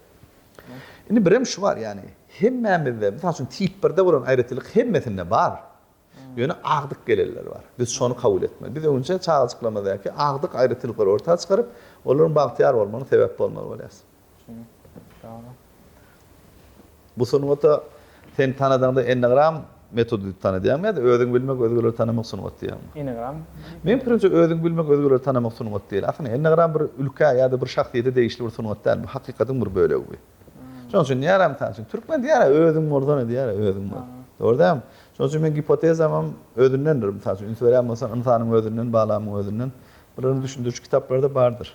Indi birem şu bar, ýagny hemmämizde, mysal üçin, tip birde bolan aýratynlyk hemmesinde bar. Ýöne agdyk geleller bar. Biz şony kabul etmeli. Biz öňinçä çagajyklarymyzdaki agdyk aýratynlyklary orta çykaryp, olaryň bagtyýar bolmagyna sebäp bolmaly bolýas. Dogry. Bu sungata sen tanadaňda ennegram metody diýip tanadýaňmy ýa-da özüňi bilmek, özgeleri tanamak sungaty diýýäňmi? Ennegram. Meň pikirimçe özüňi bilmek, özgeleri tanamak sungaty däl. Aslynda ennegram bir ülkä ýa-da bir şahsyýete degişli bir sungat däl. Bu hakykatyň bir bölegi. Şonuň üçin diýýär, mysal üçin, türkmen diýýär, özüň murdany diýýär, özüň bol. Dogry dälmi? Şonuň üçin meň gipotezam hem özündendir. Mysal üçin, üns berýän bolsaň, ynsanyň özünden, balamyň özünden. Birbirini düşündiriji kitaplarda bardyr.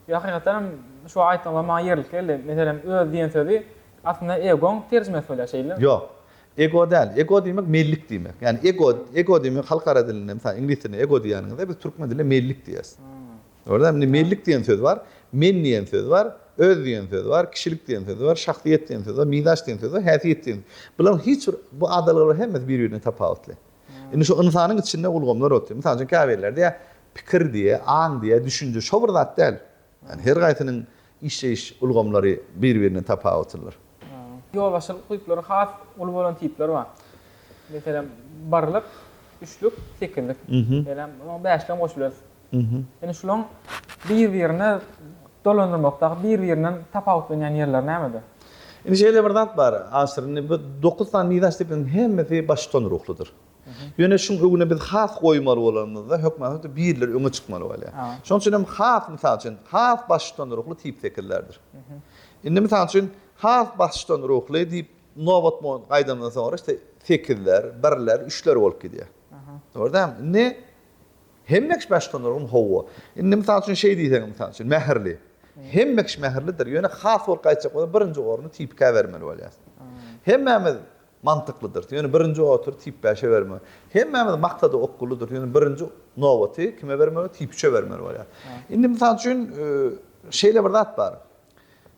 Ýa hakykatdan hem şu aýtdygyňyz maňa ýerlik geldi. Meselem, öz diýen sözi aslynda egoň terjimesi bolýar, şeýdilemi? Ýok. Ego däl. Ego diýmek mellik diýmek. Ýagny ego, ego diýmek halkara dilinde, mysal, iňlis dilinde ego diýýäniňizde biz türkmen dilinde mellik diýýäs. Gördüňizmi, indi Mellik diýen söz bar, Men diýen söz bar, Öz diýen söz bar, Kişilik diýen söz bar, Şahsyýet diýen söz bar, Mizaç diýen söz bar, Häsiýet diýen. Bularyň hiç bir, bu adalgalar hemmesi bir-birinden tapawutly. Indi şu ynsanyň içinde ulgamlar otyr. Mysal üçin, käbirleri diýýär, Pikir diýýär, aň diýýär, düşünje şo bir zat däl. Ýagny her gaýsynyň işleýiş ulgamlary bir-birinden tapawutlydyr. Ýolbaşçylyk düýpleri has uly bolan tipler bar. Meselem, birlik, üçlük, sekizlik. Meselem, oňa bäşlem goşuberýär. Indi şulaň bir-birine dolandyrmakdaky bir-birinden tapawutlanýan ýerleri nämede? Indi şeýle bir zat bar, Aşyr, indi bu dokuz sany miras depesiniň hemmesi baştutan ruhludyr. Ýöne şuň öňüne biz has goýmaly bolanymyzda, hökmany birler öňe çykmaly bolýar. Şonuň üçin hem has, mysal üçin, has baştutan ruhly tip sekizlerdir. Indi, mysal üçin, has baştutan ruhly diýip nobat gaýdandan soňra, işte, sekizler, birler, üçler bolup gidýär. Dogry dälmi? Indi Hemme kişi başga nurgun howwa. Indi mysal üçin şeý diýseň mysal üçin mähirli. Hemme kişi mähirlidir. Ýöne has bolup gaýtjak bolsa birinji orny tipikä bermeli bolýas. Hemmämiz mantyklydyrys. Ýöne birinji otury tip bäşe bermeli. Hemmämiz maksada okgunlydyrys. Ýöne birinji nobaty kime bermeli? Tip üçe bermeli bolýas. Indi mysal üçin şeýle bir zat bar.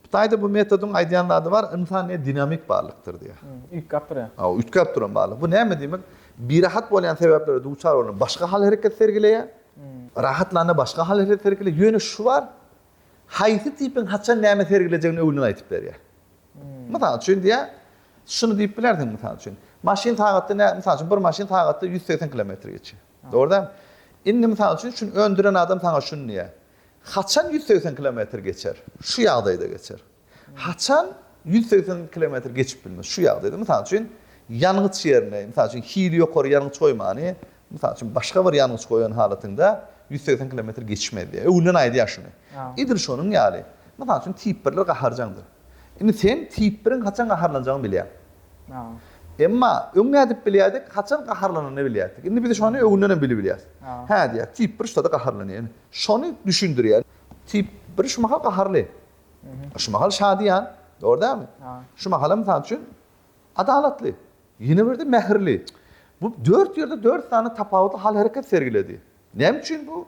Hytaýda bu metodyň aýdýan zady bar, ynsan diýýär, dinamik barlykdyr diýýär. Üýtgäp durýar. Hawa, üýtgäp duran barlyk. Bu näme diýmek? Birahat bolýan sebäplere duçar bolanda başga hal-hereket sergileýär. Rahatlanda başga hal-hereket sergileýär. Ýöne şu bar, haýsy tipiň haçan näme sergilejegini öňünden aýdyp berýär. Mysal üçin diýýär, şuny diýip bilersiň, mysal üçin, maşyn sagatda nä, mysal üçin, bir maşyn sagatda ýüz segsen kilometr geçýär. Dogry dälmi? Indi, mysal üçin, şuny öndüren adam saňa şuny diýýär, Haçan ýüz segsen kilometr geçer? Şu ýagdaýda geçer. Haçan ýüz segsen kilometr geçip bilmez? Şu ýagdaýda, mysal üçin, ýangyç ýerine, mysal üçin, hili ýokary ýangyç goýmany, mysal üçin, başga bir ýangyç goýan halatyňda ýüz segsen kilometr geçmez diýýär. Öňünden aýdýar şuny. Edil şonuň ýaly, mysal üçin, tip birler gaharjaňdyr. Indi sen tip biriň haçan gaharlanjagyny bilýäň. Emma öň nädip bilýärdik? Haçan gaharlananyny bilýärdik. Indi biz şony öňünden hem bilebilýäris. Hä diýýär, tip bir şutada gaharlanýar. Indi Şony düşündirýär. Tip bir şu mahal gaharly. Şu mahal şadyýan. Dogry dälmi? Şu mahalam mysal üçin adalatly. Ýene birde mähirli. Bu dört ýerde dört sany tapawutly hal-hereket sergiledi. Näme üçin bu?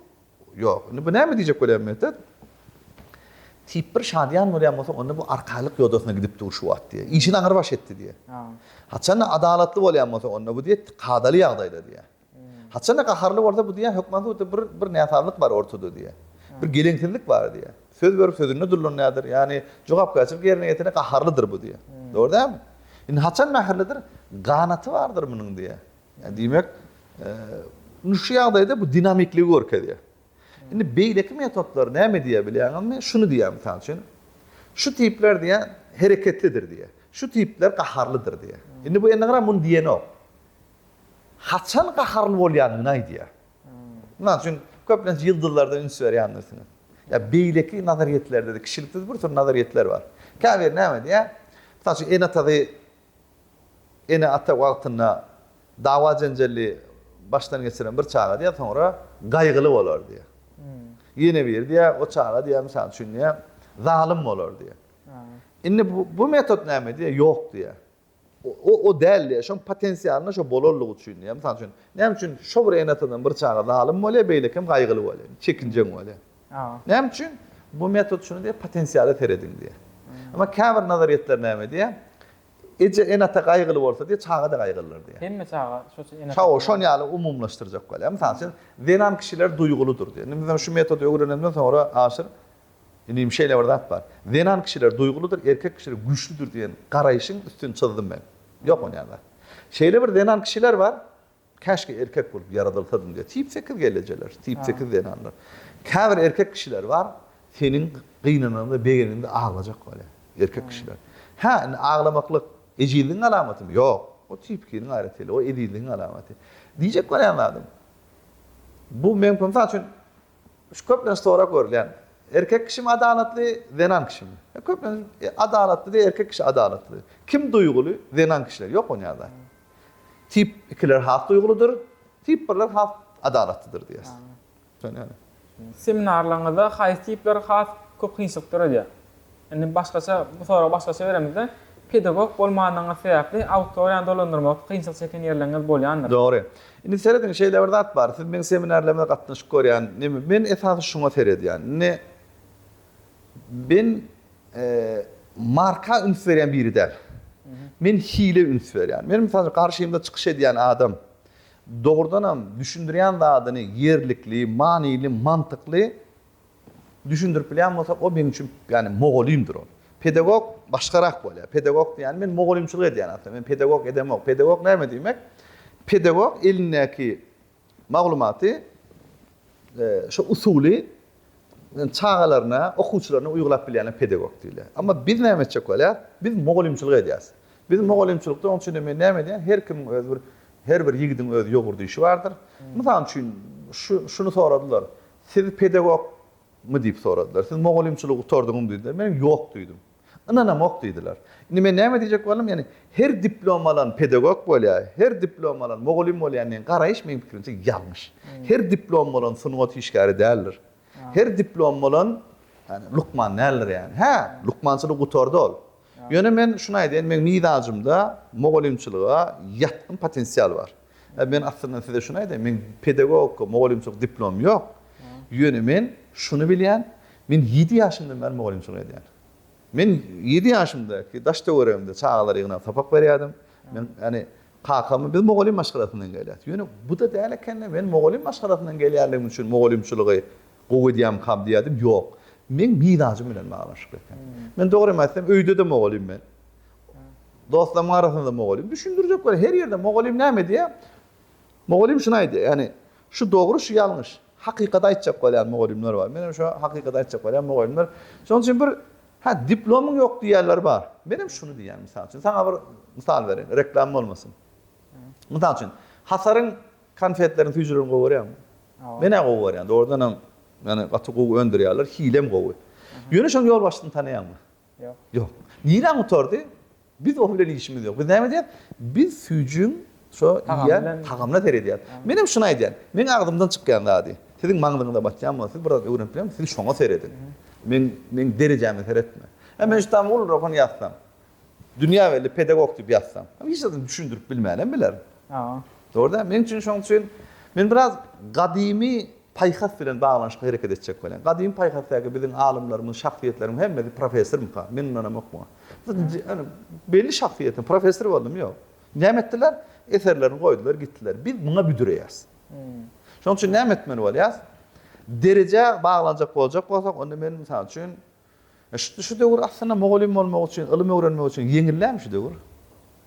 Ýok. Indi bu näme diýjek bolýar Mehter? Tip bir şadyýan bolýan bolsa, onda bu arkaýlyk ýodasyna gidip dur şu wagt diýýär. Işini aňrybaş etdi diýýär. Haçan-da adalatly bolýan bolsa, onda bu diýýär kadaly ýagdaýda diýýär. Haçan-da gaharly bolsa bu diýýär, hökman suratda bir bir näsazlyk bar ortada diýýär. Bir geleňsizlik bar diýýär. Söz berip sözünde durlanýardyr. Ýagny jogapkärçilik ýerine ýetene gaharlydyr bu diýýär. Dogry dälmi? Indi haçan mähirlidir? Ganaty bardyr munuň diýýär. Ýa diýmek, indi şu ýagdaýda bu dinamikligi görkezýär. Indi beýleki metodlar näme diýýär bilýäňizmi? Şuny diýýär mysal üçin, şu tipler diýýär hereketlidir diýýär. Şu tipler gaharlydyr diýýär. Indi bu ennegram muny diýenok. haçan gaharly bolýandygyny aýdýar. Mysal üçin, köplenç ýyldyzlarda üns berýändirsiňiz. Ýa beýleki nazaryýetlerde-de kişilikde bir sürü nazaryýetler bar. Käbiri näme diýýär? Mysal üçin, ene-atasy ene-ata wagtynda dawa-jenjelli başdan geçiren bir çaga diýýär, soňra gaýgyly bolar diýýär. Ýene biri diýýär, o çaga diýýär, mysal üçin diýýär, zalym bolar diýýär. Indi bu metod näme diýýär? Ýok diýýär. O, o däldi-ä, şoň potensialyna şo bolanlygy üçin, ýa mysal üçin, näme üçin şo bir ene-atadan bir çaga zalym bolýar, beýleki hem gaýgyly bolýar, çekinjeň bolýar? Näme üçin? Bu metod şuny diýýär, potensiala serediň diýýär. Emma käbir nazaryýetler näme diýýär? Eje, ene-ata gaýgyly bolsa diýýär, çaga-da gaýgylydyr diýýär. Hemme çaga şoça ene-ata. Şo, şon ýaly umumlaşdyrjak bolýar. Mysal üçin, zenan kişiler duýgulydyr diýýär. Indi biz şu metody öwrenenimden soňra aşyr. Inim şeýle bir zat bar. Zenan kişiler duýgulydyr, erkek kişiler güýçlüdir diýen garaýşyň üstüni çyzdym men. Ýok onýan zat. Şeýle bir zenan kişiler bar, Käşgä erkek bolup ýaradylsadym diýýär. Tip sekiz gellejeler, tip sekiz zenanlar. Käbir erkek kişiler bar, seniň gynananda, begenende aglajak bolýar. Erkek kişiler. Hä, indi aglamaklyk ejizligiň alamatymy? Ýok. O tip ikiniň aýratynlygy, o ezizligiň alamaty. Diýjek bolýan zadym, bu men, bu mysal üçin, Şu köplenç sorag görülýän. Erkek kişimi adalatly, zenan kişimi? Köplenç adalatly diýýär, erkek kişi adalatly. Kim duýguly? Zenan kişiler. Ýok ony ýazan. Tip ikiler has duýgulydyr, tip birler has adalatlydyr diýýäs. Seminarlaryňyzda haýsy tipler has köp kynçylyk döredýär? Indi başgaça, bu soragy başgaça beremizde, pedagog bolmanyňyz sebäpli auditoriýany dolandyrmakda kynçylyk çeken ýerleriňiz bolýandyr? Dogry. Indi serediň, şeýle bir zat bar, siz meň seminarlaryma gatnaşyp görýän, neme, men esasy şuňa seredýän. Indi men marka üns berýän biri däl. Men hile üns berýän. Meniň mysal üçin garşymda çykyş edýän adam dogrudanam düşündirýän zadyny ýerlikli, manyly, mantykly Düşündirip bilýän bolsa, ol meň üçin, ýagny mugallymdyr ol. Pedagog başgarak bolýar. Pedagog diýýäni men mugallymçylyk edýän aslynda. Men pedagog edemok. Pedagog näme diýmek? Pedagog elindäki maglumaty şo usuly çagalaryna, okuwçylaryna uýgulap bilýäne pedagog diýilýär. Amma biz näme etjek bolýar? Biz mugallymçylyk edýäs. Biz mugallymçylykda onuň üçin-de men näme edýän? Her kimiň özi bir her bir ýigidiň öz ýogurdy işi bardyr. Mysal üçin şu şuny soradylar. Siz pedagog, my diýip soradylar. Siz mugallymçylygy gutardyňyzmy diýdiler. Men ýok diýdim. Ynanamok diýdiler. Indi men näme diýjek boldum, ýagny her diplom alan pedagog bolýar, her diplom alan mugallym bolýar diýen garaýyş meniň pikirimçe ýalňyş. Her diplom bolan sungat işgäri däldir. Her diplom bolan ýagny lukman däldir ýagny. Hä, lukmançylygy gutardy ol. Ýöne men şuny aýdaýyn, meň mizajymda mugallymçylyga ýatgyn potensial bar. Men aslynda size şuny aýdaýyn, meň pedagogika, mugallymçylyk diplomym ýok. Ýöne men şuny bilýän, men ýedi ýaşymdan bäri mugallymçylyk edýän. Men ýedi ýaşymdaki daş-töweregimde çagalar ýygnap sapak berýärdim. Men, ýagny, kakamy biz mugallym maşgalasyndan gelýäs. Ýöne bu-da däl eken-de, men mugallym maşgalasyndan gelýänligim üçin mugallymçylygy gowy edýärmikam diýerdim, ýok. Meň mizajym bilen baglanyşykly eken. Men dogrymy aýtsam, öýde-de mugallym men. Dostlaryň arasynda mugallym düşündirjek we her ýerde mugallym näme diýýär? Mugallym şuny aýdýar, ýagny şu dogry, şu ýalňyş. Hakykaty aýtjak bolýan mugallymlar bar. Menem şo hakykaty aýtjak bolýan mugallymlar. Şonuň üçin bir Hä, diplomyň ýok diýýänler bar. Menem şuny diýýän, mysal üçin, saňa bir mysal bereýin, reklama bolmasyn. Mysal üçin, Hasaryň konfetlerini, süýjülerini gowy görýäňmi? Men-ä gowy görýän. Dogrudanam, ýagny gaty gowy öndürýärler, hilem gowy. Ýöne şonuň ýolbaşçysyny tanaýaňmy? Ýok. Nirä gutardy? Biz ol bilen işimiz ýok. Biz näme edýäs? Biz süýjüň şo iýýän tagamyna seredýäs. Menem şuny aýdýan. Meň agzymdan çykýan zady, siziň maňzyňyza batýan bolsa, siz biraz öwrenip bilemsiň, siz şoňa serediň. Meň meň derejäme seretme. Hä, men şu tam ulyrak hem ýazsam, dünýä belli pedagog diýip ýazsam, hiç zadyny düşündirip bilmänem bilerin. Dogry däl? Meň üçin şoň üçin men biraz gadymy Paýhas bilen baglanyşykly hereket etjek welin, gadymy paýhasdaky biziň alymlarymyz, şahsyýetlerimiz hemmesi professormyka? Men ynanamok muňa. Ýöne belli şahsyýetiň professor boldumy? Ýok. Näme etdiler? Eserlerini goýdular, gitdiler. Biz muňa büdüreýäris. Şonuň üçin näme etmeli bolýarys? Derejä baglanjak boljak bolsak, onda men, mysal üçin, Şitdi şu döwür aslynda mugallym bolmak üçin ylym öwrenmek üçin ýeňil dälmi şu döwür?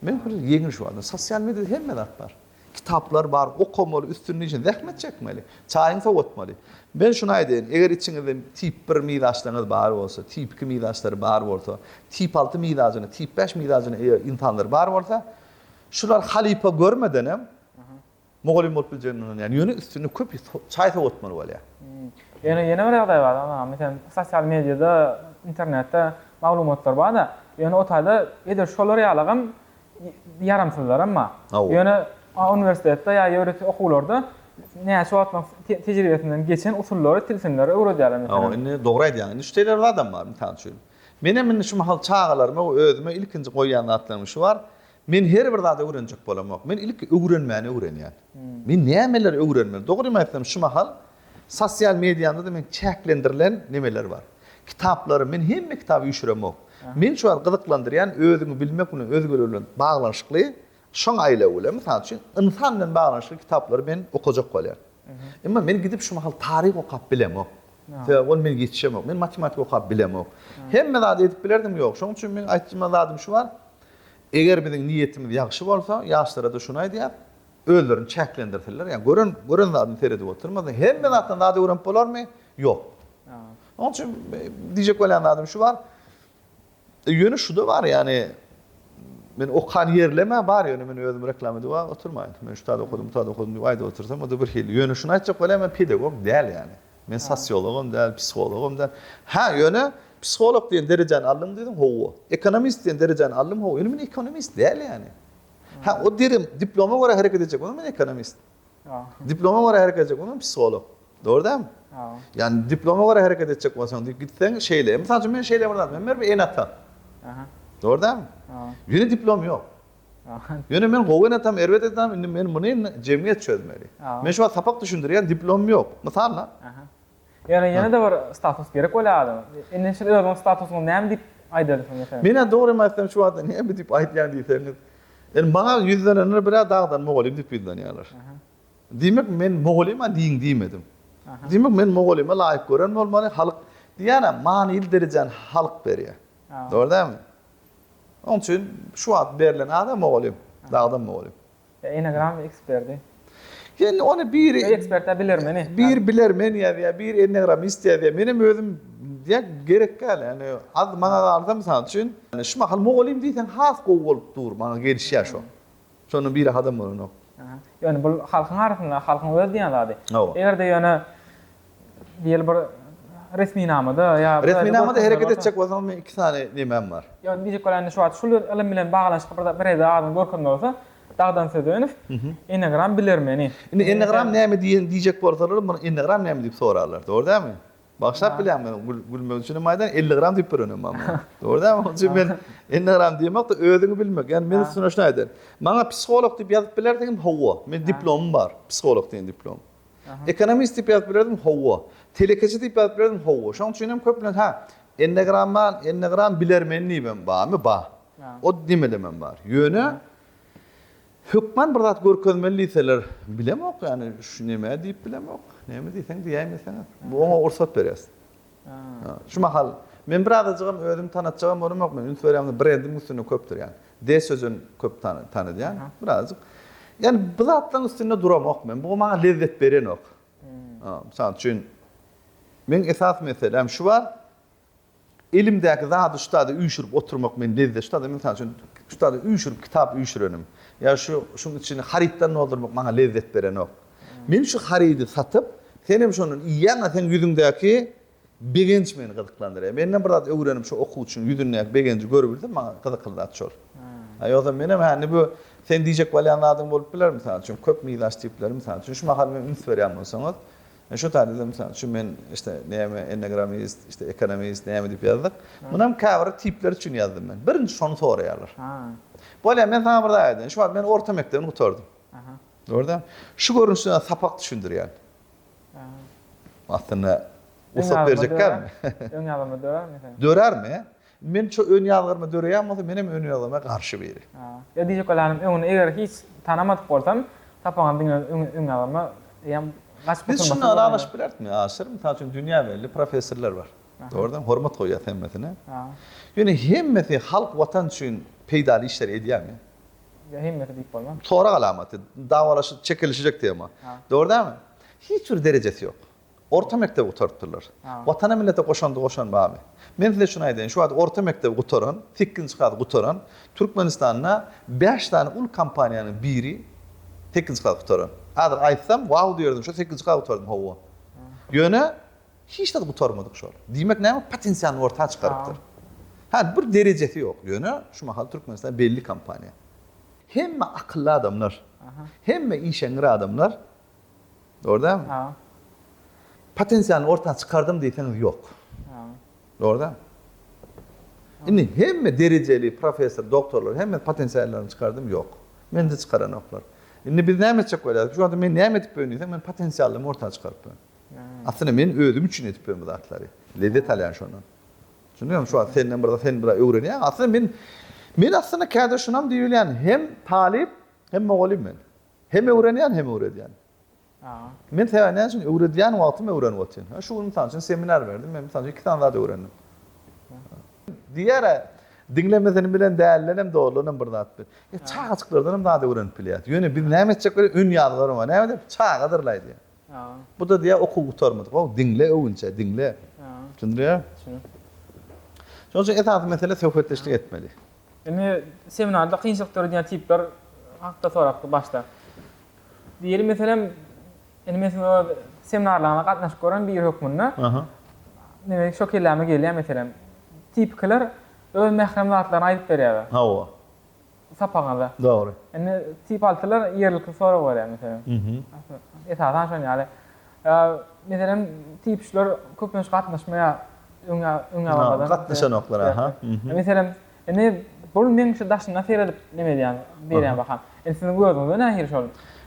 Meň pikirimçe ýeňil şu wagtda. Sosial mediada hemme zat bar. Kitaplar bar, okamaly, üstünlik üçin zähmet çekmeli, çaýyňy sowatmaly. Men şuny aýdaýyn, eger içiňizde tip bir mizaçlaryňyz bar bolsa, tip iki mizaçlary bar bolsa, tip alty mizajyna, tip bäş mizajyna eýe ynsanlar bar bolsa, şular halypa görmedenem Mugallym bolup biljegini ynanýan. Ýöne üstünde köp çaý sowatmaly bolýar. Ýöne ýene bir ýagdaý bar aga. Meselem sosial mediada, internetde maglumatlar barda, ýöne o taýda edil şolar ýalygam ýaramsyzlaram bar. Ýöne uniwersitetde ýa ýörite okuwlarda näçe wagtlaň tejribesinden geçen usullary, tilsimleri öwredýärler meselem. Hawa indi dogry aýdýaň. Indi şu teýler zadam bar. Mysal üçin. Menem indi şu mahal çagalaryma we özüme ilkinji goýýan zatlarymyň şu bar. Men her bir zady öwrenjek bolamok. Men ilki öwrenmäni öwrenýän. Men nämeleri öwrenmeli? Dogrymy aýtsam, şu mahal sosial mediamda-da meň çäklendirilen nemeler bar. Kitaplarym, men hemme kitaby üýşüremok. Meni şu wagt gyzyklandyrýan özüňi bilmek bilen özgeler bilen baglanyşykly, şoň aýlaw bilen, mysal üçin, ynsan bilen baglanyşykly kitaplary men okajak bolýan. Emma men gidip şu mahal taryh okap bilemok. Sebäbi ol meni ýetişemok. Men matematika okap bilemok. Hemme zady edip bilerdim, ýok. Şoň üçin meň aýtjma zadym şu bar, Eger biziň niýetimiz ýagşy bolsa, ýaşlara-da şuny aýdýas, özlerini çäklendirsinler, ýa gören, gören zadyny seredip oturmasyn, hemme zatdan zat öwrenip bolarmy? Ýok. Oň üçin diýjek bolýan zadym şu bar, ýöne şu-da bar, ýagny men okan ýerlem-ä bar, ýöne men özüm reklama edip-ä oturmaýyn. Men şu zady okadym, bu zady okadym diýip aýdyp otursam, o-da birhili. Ýöne şuny aýtjak bolýan, men pedagog däl ýagny. Men sosiologam däl, psihologam däl. Hä, ýöne psiholog diýen derejäni aldym diýdiň, hawa. Ekonomist diýen derejäni aldym, hawa. Ýöne men ekonomist däl ýany. Hä, o derim, diploma görä hereket edjek bolsam men ekonomist. Diploma görä hereket edjek bolsam psiholog. Dogry dälmi? Ýani diploma görä hereket etjek bolsaň diýip gitseň şeýle. Mysal üçin men şeýle bir zat, men bir ene-ata. Dogry dälmi? Ýöne diplom ýok. Ýöne men gowy enetam erbet enetam indi men muny jemgyýet çözmeli. Men şu wagt sapak düşündirýän diplomym ýok. Mysal da. Aha. Ýöne ýene-de bir status gerek bolýar adama. Indi şul özüňiň statusyňyzy näme diýip aýdardy şol meselede? Menä dogrymy aýtsam şu wagta näme diýip aýdýan diýseňiz. Indi maňa ýüzlenenler birä dagdan mugallym diýip ýüzlenýärler. Diýmek men mugallyma diýiň diýmedim. Diýmek men mugallyma laýyk gören bolmaly, halk diýýänä manyly derejäni halk berýär. Dogry dälmi? Oň üçin şu wagt berlen adam mogolýom, dagdam mogolýom. Ýa enegram eksperdi. Ýa ony bir Ýa ekspertde bilermeni. Bir bilermen ýazýar, bir enegramist ýazýar. Menem özüm ýa gerek däl ýani az maňa galsa mysal üçin şu mahal mogolýym diýseň has gowy bolup dur maňa gelişýär şo. Şondan biri hadam bolanok. Ýöne bul halkyň arasynda, halkyň öz diýen zady. Hawa. Eger-de ýöne diýeli bir resminamada ýa bir. Resminamada hereket etjek bolsaňyz meň iki sany nemem bar. Ýöne diýjek bolan indi şu wagt şul ylym bilen baglanyşykly bir bir ede adyňy görkeziň bolsa Dagdan Sözenow, Enneagram bilermeni. Indi Enneagram näme diýen diýjek bolsalar muny Enneagram näme diýip sorarlar. Dogry dälmi? Bagşap bilýän men gülmek üçin maýdan elli gram diýip öwrenem maňa. Dogry däl mi? Çünki men elli gram diýmokda özüňi bilmek. Ýani men üstüne şuny aýdaýyn. Maňa psiholog diýip ýazyp bilerdiňmi? Hawa. Men diplomym bar. Psiholog diýen diplom. Ekonomist diýip ýazyp bilerdiňmi? Hawa. Telekeçi diýip ýazyp bilerdiňmi? Hawa. Şoň üçin hem köplenç ha, ennegrama, ennegram bilermen diýibem barmy? Bar. O diýmelemem bar. Ýöne. Hökman bir zat görkezmeli diýseler, bilemok ýany şu nämä diýip bilemok. Näme diýseň diýäýmeseňiz. Oňa rugsat berýäs. Şu mahal men bir azajygam özümi tanatjagam bolamok, men üns berýän brendiň üstünde köpdür ýany. Des Sözen köp tanydýan, bir azajyk. Ýani bu zatlaryň üstünde duramok men. Bu maňa lezzet berenok. Mysal üçin, meň esas meseläm şu bar. Elimdäki zady ustada üýşürip oturmak meni lezzetştadyr. Mysal üçin, ustada üýşürip kitap üýşürenim ýa şu şuň içini harytdan doldurmak maňa lezzet berenok. Men şu harydy satyp, senem şondan iýýäň-ä, seň ýüzüňdäki begenç meni gyzyklandyrýar. Menden bir zat öwrenip, şu okuwçynyň ýüzündäki begenji görübilsem, maňa gyzykly zat şol. A ýogsam menem hä indi bu seň diýjek bolýan zadyň bolup biler, mysal üçin, köp mizaç tipleri, mysal üçin, şu mahal men üns berýän bolsaňyz, Şu taýda-da, mysal üçin, men işte näme enneagramist, işte ekonomist, näme diýip ýazdyk. Muny hem käbir tipler üçin ýazdym men. Birinji şony soraýarlar. Bolýa, men saňa bir zat aýdaýyn. Şu wagt men orta mekdebini gutardym. Gördüňmi? Şu görnüşde sapak düşündirýän. Aslynda ussat berjekkämi? Öňe alynma dörärmi? Dörärmi? Men şo ön ýazgaryma döreýän bolsa menem ön ýazgaryma garşy biri. Ýa diýjek bolanam öňüni eger hiç tanamadyk bolsam sapaňam diňe ön ýazgaryma eýem gaçyp Biz şunda ylalaşyp bilerismi? Aşyr mysal üçin dünýä belli professorlar bar. Dogrudan hormat goýýas hemmesine. Ýöne hemmesi halk watan üçin peýdaly işleri edýärmi? Ýa hemmesi diýip bolmaz. Sorag alamaty, dawalaşyp çekilişjek tema. Dogry dälmi? Hiç bir derejesi ýok. Orta mekdebi gutarypdyrlar. Watana millete goşandy goşan barmy? Men size şuny aýdaýyn, şu wagt orta mekdebi gutaran, sekizinji klas gutaran Türkmenistanda bäş sany uly kompaniýanyň biri sekizinji klas gutaran. Häzir aýtsam, wau diýerdiň, şo sekizinji klas gutardym, hawa. Ýöne hiç zat gutarmadyk şol. Diýmek näme? Potensialyny orta çykarypdyr. Hä, bir derejesi ýok. Ýöne şu mahal Türkmenistan belli kompaniýa. Hemme akylly adamlar, hemme işeňňir adamlar Dogry dälmi? Haý. Potensiýany orta çykardym diýseňiz ýok. Haý. Dogry dälmi? Indi hemme derejeli professor, doktorlar hemme potensiýalaryny çykardym ýok. Mende çykaranoklar. Indi biz näme etjek bolýarys? Şu wagta men näme edip bilen diýseň men potensiýallymy orta çykaryp bilen. Aslynda men özüm üçin edip bilen bu zatlary. Lezzet alýan şondan. Düşündiňizmi? Şu wagt senden bir zat sen bir öwrenýäň. Aslynda men men aslynda kädür şunam diýip bilýän hem talyp hem mugallym men. Hem öwrenýän hem öwredýän. Men sebäbi näme üçin öwredýän wagtym öwrenip otyryn. Hä şu gün mysal üçin seminar berdim, men mysal üçin iki sany zat öwrendim. Diýýärä diňlemesini bilen däldenem dogrudanam bir zat bil. E çagajyklardanam zat öwrenip bilýäs. Ýöne biz näme etjek welin ön ýazgylarym bar. Näme diýip çagadyr laý diýýär. Bu da diýýär okuw gutarmadyk. How diňle öwünçä diňle. Düşündirýär. Şonuň üçin esasy mesele söhbetdeşlik etmeli. Indi seminarda kynçylyk döredýän tipler hakda sorap başla. Diýeli, meselem, indi men siziň öz seminarlaryňyza gatnaşyp gören biri hökmünde, diňe şo kelläme gelýär, meselem, tipikiler öz mährem zatlaryny aýdyp berýärler. Hawa. Sapagyňyzda. Dogry. Indi tip altylar ýerlikli sorag berýär, meselem. Esasan şonuň ýaly. Ýa, meselem, typçylar köplenç gatnaşmaýar öňe, öňebabadan. Gatnaşanoklar, aha. Meselem, indi bul meň şu daşyna seredip neme edýän, berýän baham. Indi siziň gözüňize nähili şol?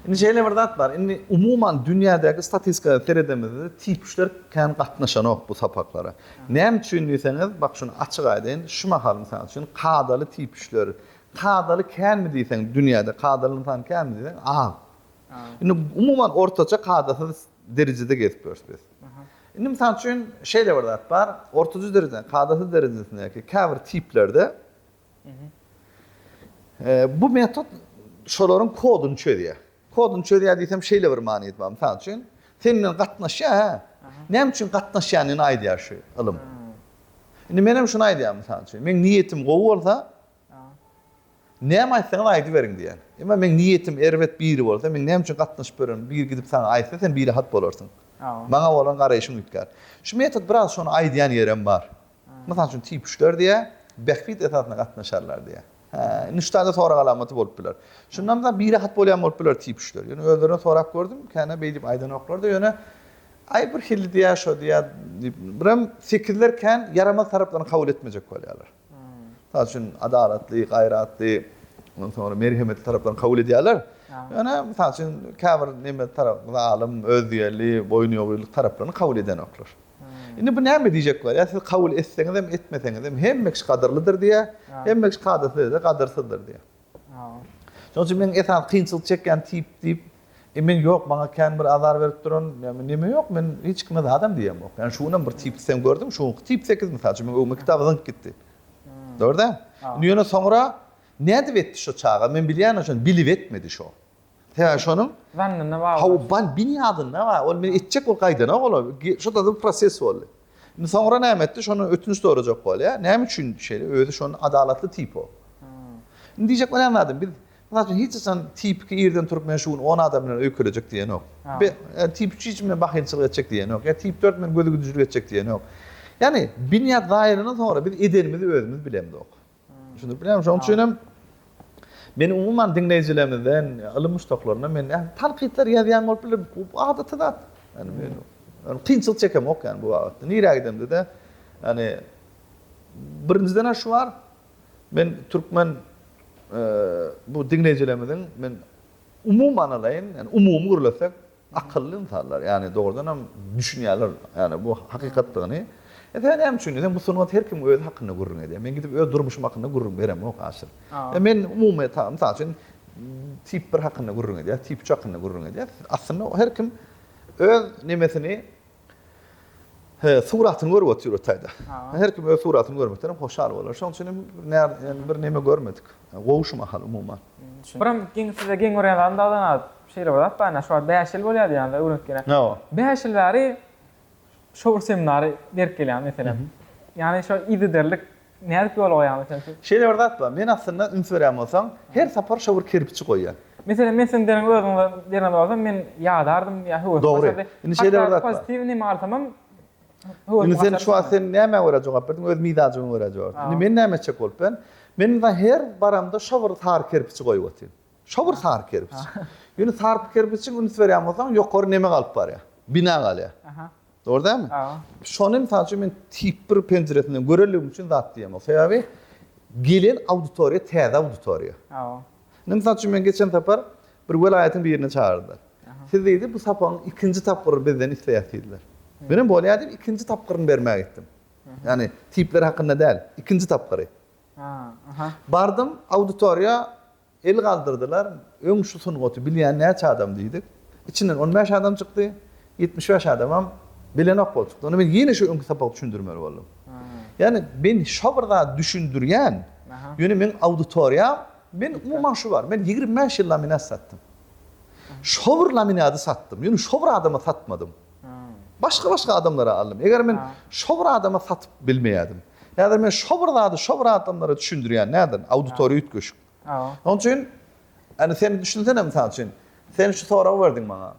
Indi şeýle bir zat bar. Indi umuman dünýädäki statistika seredemizde typçylar kän gatnaşanok bu sapaklara. Näme üçin diýseňiz, bak şuny açyk aýdaýyn, şu mahal mysal üçin kadaly typçylar, kadaly känmi diýseň dünýäde, kadaly ynsan känmi diýseň az. Indi umuman ortaça kadasyz derejede gezip ýörüs biz. Indi mysal üçin şeýle bir zat bar, ortaça derejede, kadasyz derejesindäki käbir tiplerde bu metod şolaryň koduny çözýär. Koduny çözýär diýsem şeýle bir manysy bar, mysal üçin sen bilen gatnaşýar hä? Näme üçin gatnaşýanyny aýdýar şu ylym. Indi men hem şuny aýdýaryn mysal üçin, meň niýetim gowy bolsa, Näme aýtsaňyz aýdyberiň diýýän. Emma meň niýetim erbet biri bolsa, men näme üçin gatnaşyp ýören, biri gidip saňa aýtsa, sen birehat bolarsyň. Maňa bolan garaýşyň üýtgär. Şu metod biraz şony aýdýan ýerem bar. Mysal üçin tipuşlar diýýär, bähbit esasyna gatnaşarlar diýýär. Hä, indi şu taýda sorag alamaty bolup biler. Şunda mysal birehat bolýan bolup biler tipuşlar. Ýöne özlerinden sorap gördüm, känä beýdip aýdanoklar-da, ýöne aý birhili diýýär, şo diýýär diýip, birem tekizler kän ýaramaz taraplaryny kabul etmejek bolýarlar. Mysal üçin, adalatly, gaýratly, ondan soňra merhemetli taraplaryny kabul edýärler. Ýöne, mysal üçin, käbir neme tarap, zalym, özýerli, boýnuýogynlyk taraplaryny kabul edenoklar. Indi bu näme diýjek bolýar? Siz kabul etseňizem, etmeseňizem hemme kişi gadyrlydyr diýýär, hemme kişi kadyrsyz ýerde gadyrsyzdyr diýýär. Şonuň üçin meň esasy kynçylyk çekýän tip diýip, men ýok, maňa kän bir azar berip duran, neme ýok, men hiç kime zadam diýemok. Ýani şu günam bir tipdi sen gördüň, şu günki tip sekiz mysal üçin, meň öňümi kitaby zyňyp gitdi. Dogry däl? Indi ýöne soňra nädip etdi şo çaga, men bilýän şony, bilip etmedi şo. He, şonuň Zannyna bagly. Hawa, ban binýadynda bar. Ol men etjek bolup gaýdanok olar. Şo-da bir proses boldy. Indi soňra näme etdi? Şondan ötünç sorajak bolýar. Näme üçin şeýle? Özi şonda adalatly tip o. Indi diýjek bolýan zadym, biz, mysal üçin, hiç haçan tipiki irden turup men şu gün on adam bilen öý kölejek diýenok. Be, tip üç hiç bilen bahylçylyk etjek diýenok. Ýa tip dört men gözügidijilik etjek diýenok. Ýagny binýat zaýalanan soňra biz edenimizi özümiz bilemzok. Düşündirip bilýärmi? Şonuň üçin hem men umuman diňleýjilerimizden, ylym muşdaklaryndan men näme tankytlar ýazýan bolup biler, bu adaty zat. Ýani men ony kynçylyk çekemok ýani bu babatda. Nirä gidemde-de ýani birinjiden-ä şu bar, men türkmen bu diňleýjilerimiziň men umuman alaýyn, ýani umumy gürlesek, Akylly ynsanlar, ýagny dogrudanam düşünýärler, ýagny bu hakykatdygyny. Esasan näme üçin diýseň, bu sungat her kim özi hakynda gürrüň edýär. Men gidip öz durmuşym hakynda gürrüň beremok aşyr. Ýa men umumy ta, mysal üçin, tip bir hakynda gürrüň edýär, tip üç hakynda gürrüň edýär. Aslynda her kim öz nemesini, He, suratyny görüp otyr otaýda. Her kim öz suratyny görmekden hem hoşal bolar. Şoň üçin hem näme bir näme görmedik. Gowy şu mahal umuman. Biram geň size geň görýän zadym dagdan az şeýle bir zat bar ine şu wagt bäş ýyl bolýar diýýäňiz öwrenitgene. Hawa. Bäş ýyl bäri şo bir seminary berip gelýäňiz meselem. Ýagny şo yzygiderlik Nädip ýola goýaňyz sen siz? Şeýle bir zat bar. Men aslynda üns berýän bolsaň, her sapar şo bir kerpiçi goýýan. Meselem men siziň deriňizi özüňize beren bolsam men ýadardym ýa höwesim Dogry. gaçardy. Indi şeýle bir Hatda zat bar. pozitiw neme alsamam höwesim Indi sen gaçardy şu wagt şonda. sen nämä görä jogap berdiň? Öz mizajyňa görä jogap berdiň. Indi Hawa. men näme etjek bolup ben? Men indi her baramda şo bir sary kerpiçi goýup otyryn. Şo bir sary kerpiç. Ýöne sary kerpiçiň üns berýän bolsaň ýokary neme galyp barýar? Bina galýar. Aha. Dogry dälmi? Şony mysal üçin men tip bir penjiresinden görenligim üçin zat diýemok. Sebäbi gelen auditoriýa täze auditoriýa. Indi mysal üçin men geçen sapar bir welaýatyň birini çagyrdylar. Siz diýdi bu sapagyň ikinji tapgyryny bizden isleýäs diýdiler. Men hem bolýa diýip ikinji tapgyryny bermä gitdim. Ýagny tipler hakynda däl, ikinji tapgyry. Bardym auditoriýa El galdyrdylar, öň şu sungaty bilýän näçe adam diýdik. Içinden on bäş adam çykdy, ýetmiş bäş adamam bilenok bolup çykdy. Onda men ýene şu öňki sapagy düşündirmeli boldum. Ýagny men şo bir zady düşündirýän, ýöne meň auditoriýam, men umuman şu bar, men ýigrimi bäş ýyl laminat satdym. Şo bir laminady satdym, ýöne şo bir adama satmadym. Başga-başga adamlara aldym. Eger men şo bir adama satyp bilmeýädim. Häzir men şo bir zady şo bir adamlara düşündirýän, nädin, auditoriýa üýtgeşik. Şonuň üçin, indi sen düşünsene, mysal üçin, sen şu soragy berdiň maňa.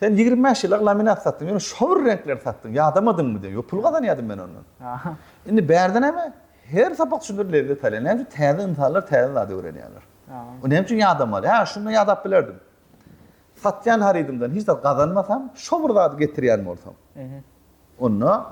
Sen ýigrimi bäş ýyllap laminat satdyň, ýöne şo bir reňkleri satdyň, ýadamadyňmy diýen. Ýok, pul gazanýardym men ondan. Indi bärde näme? Her sapak üçindir lezzet alýar. Näme üçin? Täze ynsanlar täze zady öwrenýärler. Näme üçin ýadamaly? Hä, şunda ýadap bilerdim. Satýan harydymdan hiç zat gazanmasam, şo bir zady getirýän bolsam, onda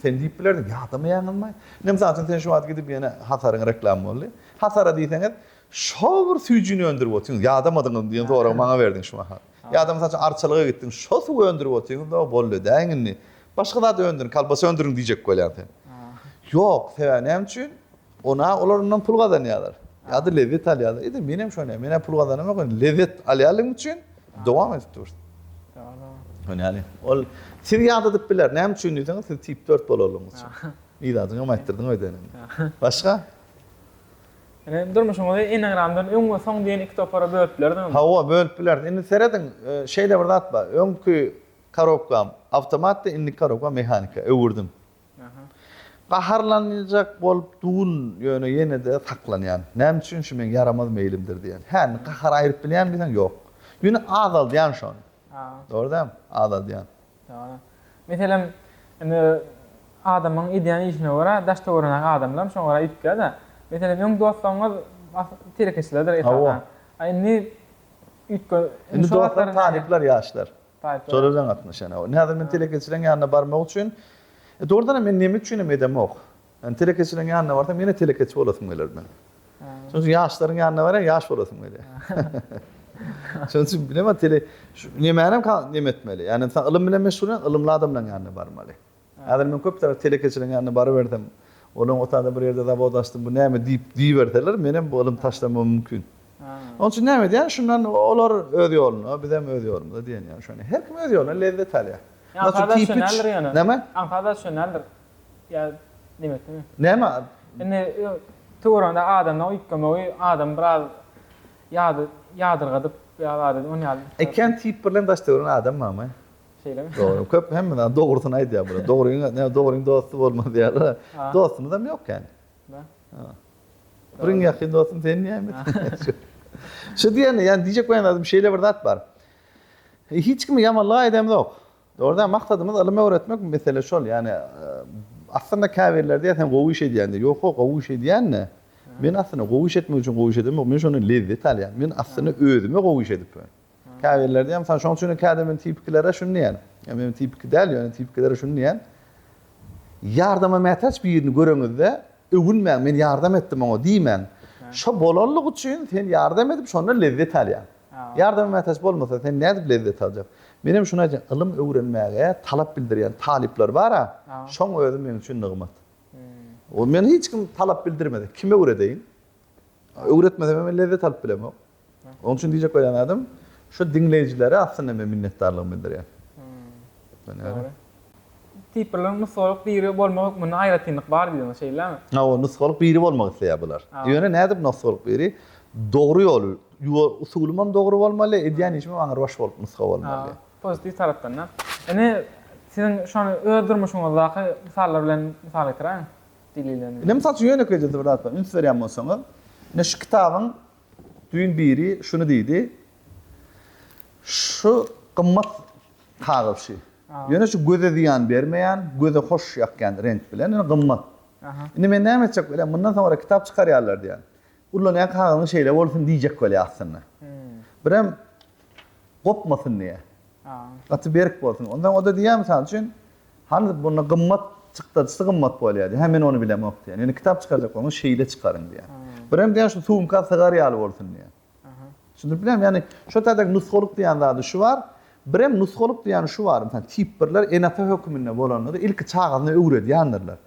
sen diýip bilerdiň, ýadamaýaňyzmy? Ine, mysal üçin, sen şu wagt gidip ýene Hasaryň reklamy boldy. Hasara diýseňiz, şo bir süýjini öndürip otyrsyňyz, ýadamadyňyzmy diýen soragy maňa berdiň şu mahal. Ýa-da, mysal üçin, Arçalyga gitdiň, şo suwy öndürip otyrsyňyz-da, boldy, däň indi. Başga zat öndüriň, kolbasa öndüriň diýjek bolýaň sen. Ýok, sebäbi näme üçin? Onä olar ondan pul gazanýarlar. Ýa-da lezzet alýarlar. Ede men hem şony, men-ä pul gazanamok, indi lezzet alýanlygyň üçin dowam edip dursun. Ýöne ýaly, ol sizi ýadadyp biler. Näme üçin diýseňiz, siz tip dört bolanlygyňyz üçin. Iladyňy hem aýtdyrdyň bedeniňe. Başga? Ine, durmuşyňyzy enneagramdan öň we soň diýen iki topara bölüp bilersiňizmi? Hawa, bölüp bileris. Indi serediň, şeýle bir zat bar. Öňki korobkam awtomatdy, indiki korobkam mehanika, öwürdim. Gaharlanjak bolup dun ýöne ýene-de saklanýan. Näme üçin şu meň ýaramaz meýlimdir diýen. Hä indi gahary aýryp bilýän diýseň ýok. Ýöne azaldýan şony. Dogry dälmi? Azaldýan. Dogry. Meselem indi adamyň edýän işine görä daş-töwereňdäki adamlaram şoňa görä üýtgär-de. Meselem öň dostlaryňyz telekeçilerdir esasan. A indi üýtge. Indi dostlar talyplar ýaşlar. Şolar bilen gatnaşýan. Häzir men telekeçileriň ýanyna barmak üçin, dogrudan hem men näme üçinem edemok. Ýani telekeçileriň ýanyna barsam ýene telekeçi bolasym geler meniň. Şonuň üçin ýaşlaryň ýanyna barýan ýaş bolasym gelýär. Şonuň üçin bilemok tele şu nemänem neme etmeli. Ýani ylym bilen meşgul ylymly adamlaryň ýanyna barmaly. Häzir men köp sagat telekeçileriň ýanyna barybersem, olam otagda bir ýerde zawod açdym, bu näme diýip diýiberseler, menem bu ylym taşlamagym mümkin. Onuň üçin näme edýän, şundan olar öz ýoluna, bizem öz ýolumyza diýen ýaly şony. Her kim öz ýolundan lezzet alýar. Näme? Aňsat-a şonaldyr. Ýa nebetimi? Näme? Indi töweregiňde adamdan üýtgemegi adamy biraz ýadyrgadyp ýa-da ony ýaly. Ekän tiýip birlen daş döwran adam barmy? Şeýlemi? Dogry, köp hemme zat dogrusyny aýdýar bular. Dogryň, näme dogryň dosty bolmaz diýýärler. Dostumyzam ýok kän. Bar. Bir iň ýakyn dostum sen diýäýmeli. Şu diýeni, ýani diýjek bolan zadym şeýle bir zat bar. Hiç kimi ýamanlyk aýdamzok. Dogry däl, maksadymyz ylym öwretmek, mesele şol. Ýani aslynda käbirleri diýýär sen gowy iş edýän diýip. Ýok-a, gowy iş edýän-de. Men aslynda gowy iş etmek üçin gowy iş edemok. Men şondan lezzet alýan. Men aslynda özüme gowy iş edipmen. Käbirleri diýýär, mysal, şonuň üçin käte men tipikilere şuny diýýän, ýa men tipiki däl, ýöne tipikilere şuny diýýän, Ýardama mätäç birini göreňizde, öwünmäň, men ýardam etdim oňa diýmäň. Şo bolanlygy üçin sen ýardam edip, şondan lezzet alýaň. Ýardama mätäç bolmasa, sen nädip lezzet aljaň? Men hem şuny aýdýan, ylym öwrenmäge talap bildirýän talyplar bar-a, şoň özi meň üçin nygmat. Ol meni hiç kim talap bildirmese, kim öwredeýin? Öwretmesem hem men lezzet alyp bilemok. Onuň üçin diýjek bolýan zadym, şu diňleýjilere aslynda men minnetdarlygymy bildirýän. Dogry. Tiprleriň nusgalyk biri bolmak hökmünde aýratynlyk bar diýdiň, şeýlemi? Hawa, nusgalyk biri bolmak isleýär bular. Ýöne nädip nusgalyk biri? Dogry ýol, usulymam dogry bolmaly, edýän işimem aňrybaş bolup nusga bolmaly. Pozitiw tarapdan-da. Indi siziň şony öz durmuşyňyzdaky mysallar bilen mysal getiräýiň. Indi, mysal üçin, ýönekeýje bir zat bar. Üns berýän bolsaňyz, indi şu kitabyň Düýn biri şuny diýdi, Şu gymmat kagyzçy. Ýöne şu göze zyýan bermeýän, göze hoş ýakýan reňk bilen, ýöne gymmat. Indi men näme etjek welin, mundan soňra kitap çykarýarlar diýýän. Ullanýan kagyzyň şeýle bolsun diýjek welin aslynda. Birem gopmasyn diýýär. Gaty berk bolsun. Ondan o-da diýýär, mysal üçin, Hany, bunda gymmat, çykdajysy gymmat bolýar diýýär. Hä, men ony bilemok diýýär. Ýöne kitap çykarjak bolsaňyz, şeýle çykaryň diýýär. Birem diýýär, şu sumka sygar ýaly bolsun diýýär. Düşündirip bilemmi? Ýagny, şo taýda nusgalyk diýýän zady şu bar. Birem nusgalyk diýýän şu bar, mysal, tip birler ene-ata höküminde bolandyr, ilki çagasyna öwredýändirler.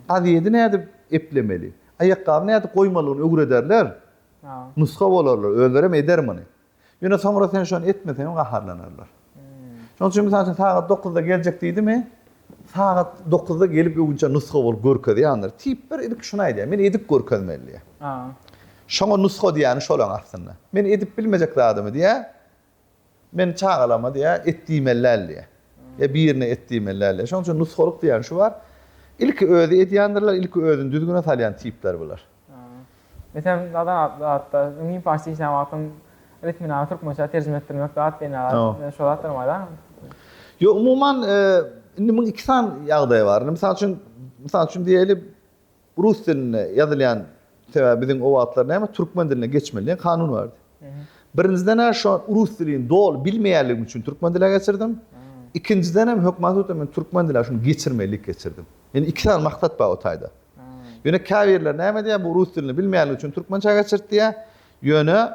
Gazedi nädip eplemeli, aýakgabyny nädip goýmalygyny öwrederler. Nusga bolarlar, özlerem eder muny. Ýöne soňra sen şony etmeseňem gaharlanarlar. Şonuň üçin mysal üçin sagat dokuzda geljek diýdimi, sagat dokuzda gelip öwünçä nusga bolup görkezýändir. Tipler ilki şuny aýdýar, men edip görkezmeli diýýär. Şoňa nusga diýýäni şol aňy aslynda. Men edip bilmejek zadymy diýýär, Men çagalarma diýýä, et diýmeli däl diýýä. Ýa birine et diýmeli däl diýýä. Şonuň üçin nusgalyk diýýän şu bar. Ilki özi edýändirler, ilki özüni düzgüne salýan tipler bular. Meselem, Adatda müň parsça işlän wagtym Ritminany türkmençä terjime etdirmek zat diýen ýaly şo zatlar barmy? Ýok, umuman, indi muň iki sany ýagdaý bar. Mysal üçin, mysal üçin diýeli, Bu rus dilinde ýazylýan sebäbi biziň o wagtlar näme türkmen diline geçmeli diýen kanun bardy. Birinjiden a şo rus dilini doly bilmeýänligim üçin türkmen dile geçirdim. Ikinjidenem hökman hut men türkmen dile şuny geçirmelilik geçirdim. Ýöne iki sany maksat bar o taýda. Ýöne käbirler näme diýýär bu rus dilini bilmeýänligi üçin türkmençä geçirt diýýär. Ýöne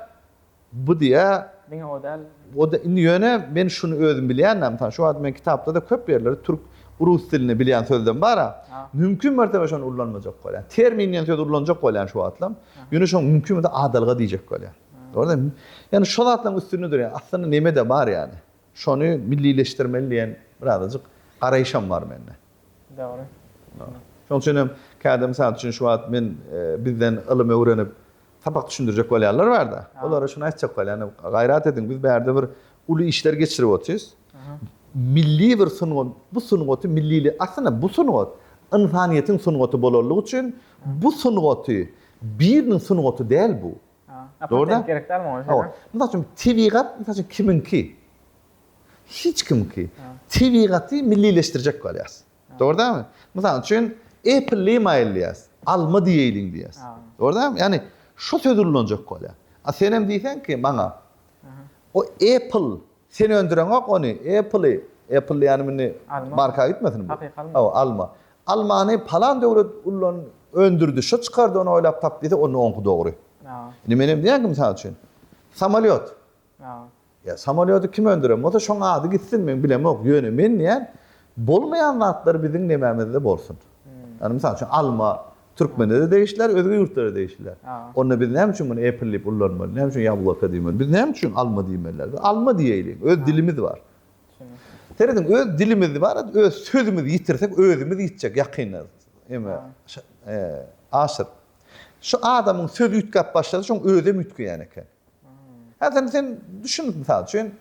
Bu diýýä, Diňe o däl. O da, indi ýöne men şuny özüm bilýän-ä, mysal, şu wagt men kitapda-da köp ýerleri türk, rus dilinde bilýän sözlem bar-a, mümkin mertebe şony ullanmajak bolýan. Termin diýen sözi ulanjak bolýan şu wagtlam. Ýöne şoňa mümkin bolsa adalga diýjek bolýan. Gördüňmi? Ýani şu zatlaryň üstünde durýan. Aslynda neme-de bar ýani. Şony millileşdirmeli diýen birazajyk garaýyşam bar mende. Dogry. Şoň üçin hem käte, mysal üçin, şu wagt men bizden ylym öwrenip, Sapak düşündirjek bolýanlar barda, olara şuny aýtjak bolýan, gaýrat ediň, biz bärde bir uly işler geçirip otyrys. Milli bir sungat, bu sungaty millili, aslynda bu sungat ynsanyýetiň sungaty bolanlygy üçin bu sungaty biriniň sungaty däl bu. Dogry da? Gerek däl muňa şeýle. Mysal üçin tebigat, mysal üçin kimiňki? Hiç kimiňki. Tebigaty millileşdirjek bolýas. Dogry dälmi? Mysal üçin, Apple lima elýäs, alma diýeýliň diýýäs. Dogry dälmi? Ýagny şu söz ulanjak bolýar. A sen hem diýseň ki, maňa o Apple sen öndüreňok ony, Apple-y, Apple diýýänim indi marka gitmesin bu. Hakyky alma. Hawa, alma. Almany palan döwlet ulan öndürdi, şu çykardy, ony oýlap tapdy diýse, onda oňky dogry. Indi men hem diýýän ki, mysal üçin, samolýot. Ýa samolýody kim öndüren bolsa şoň ady gitsin men bilemok ýöne men diýýän bolmaýan zatlar biziň nemämizde bolsun. Ýagny mysal üçin alma türkmenlere degişliler özge ýurtlara degişliler. Onda biz näme üçin muny apple diýip ullanmaly näme üçin ýabloko diýmeli biz näme üçin alma diýmeliler biz alma diýeýliň öz dilimiz bar. Serediň öz dilimiz bar öz sözümizi ýitirsek özümiz ýitjek ýakynda eme aşyr şu adamyň sözi üýtgäp başlasa şoň özem üýtgeýän eken. Häzir sen düşünip mysal üçin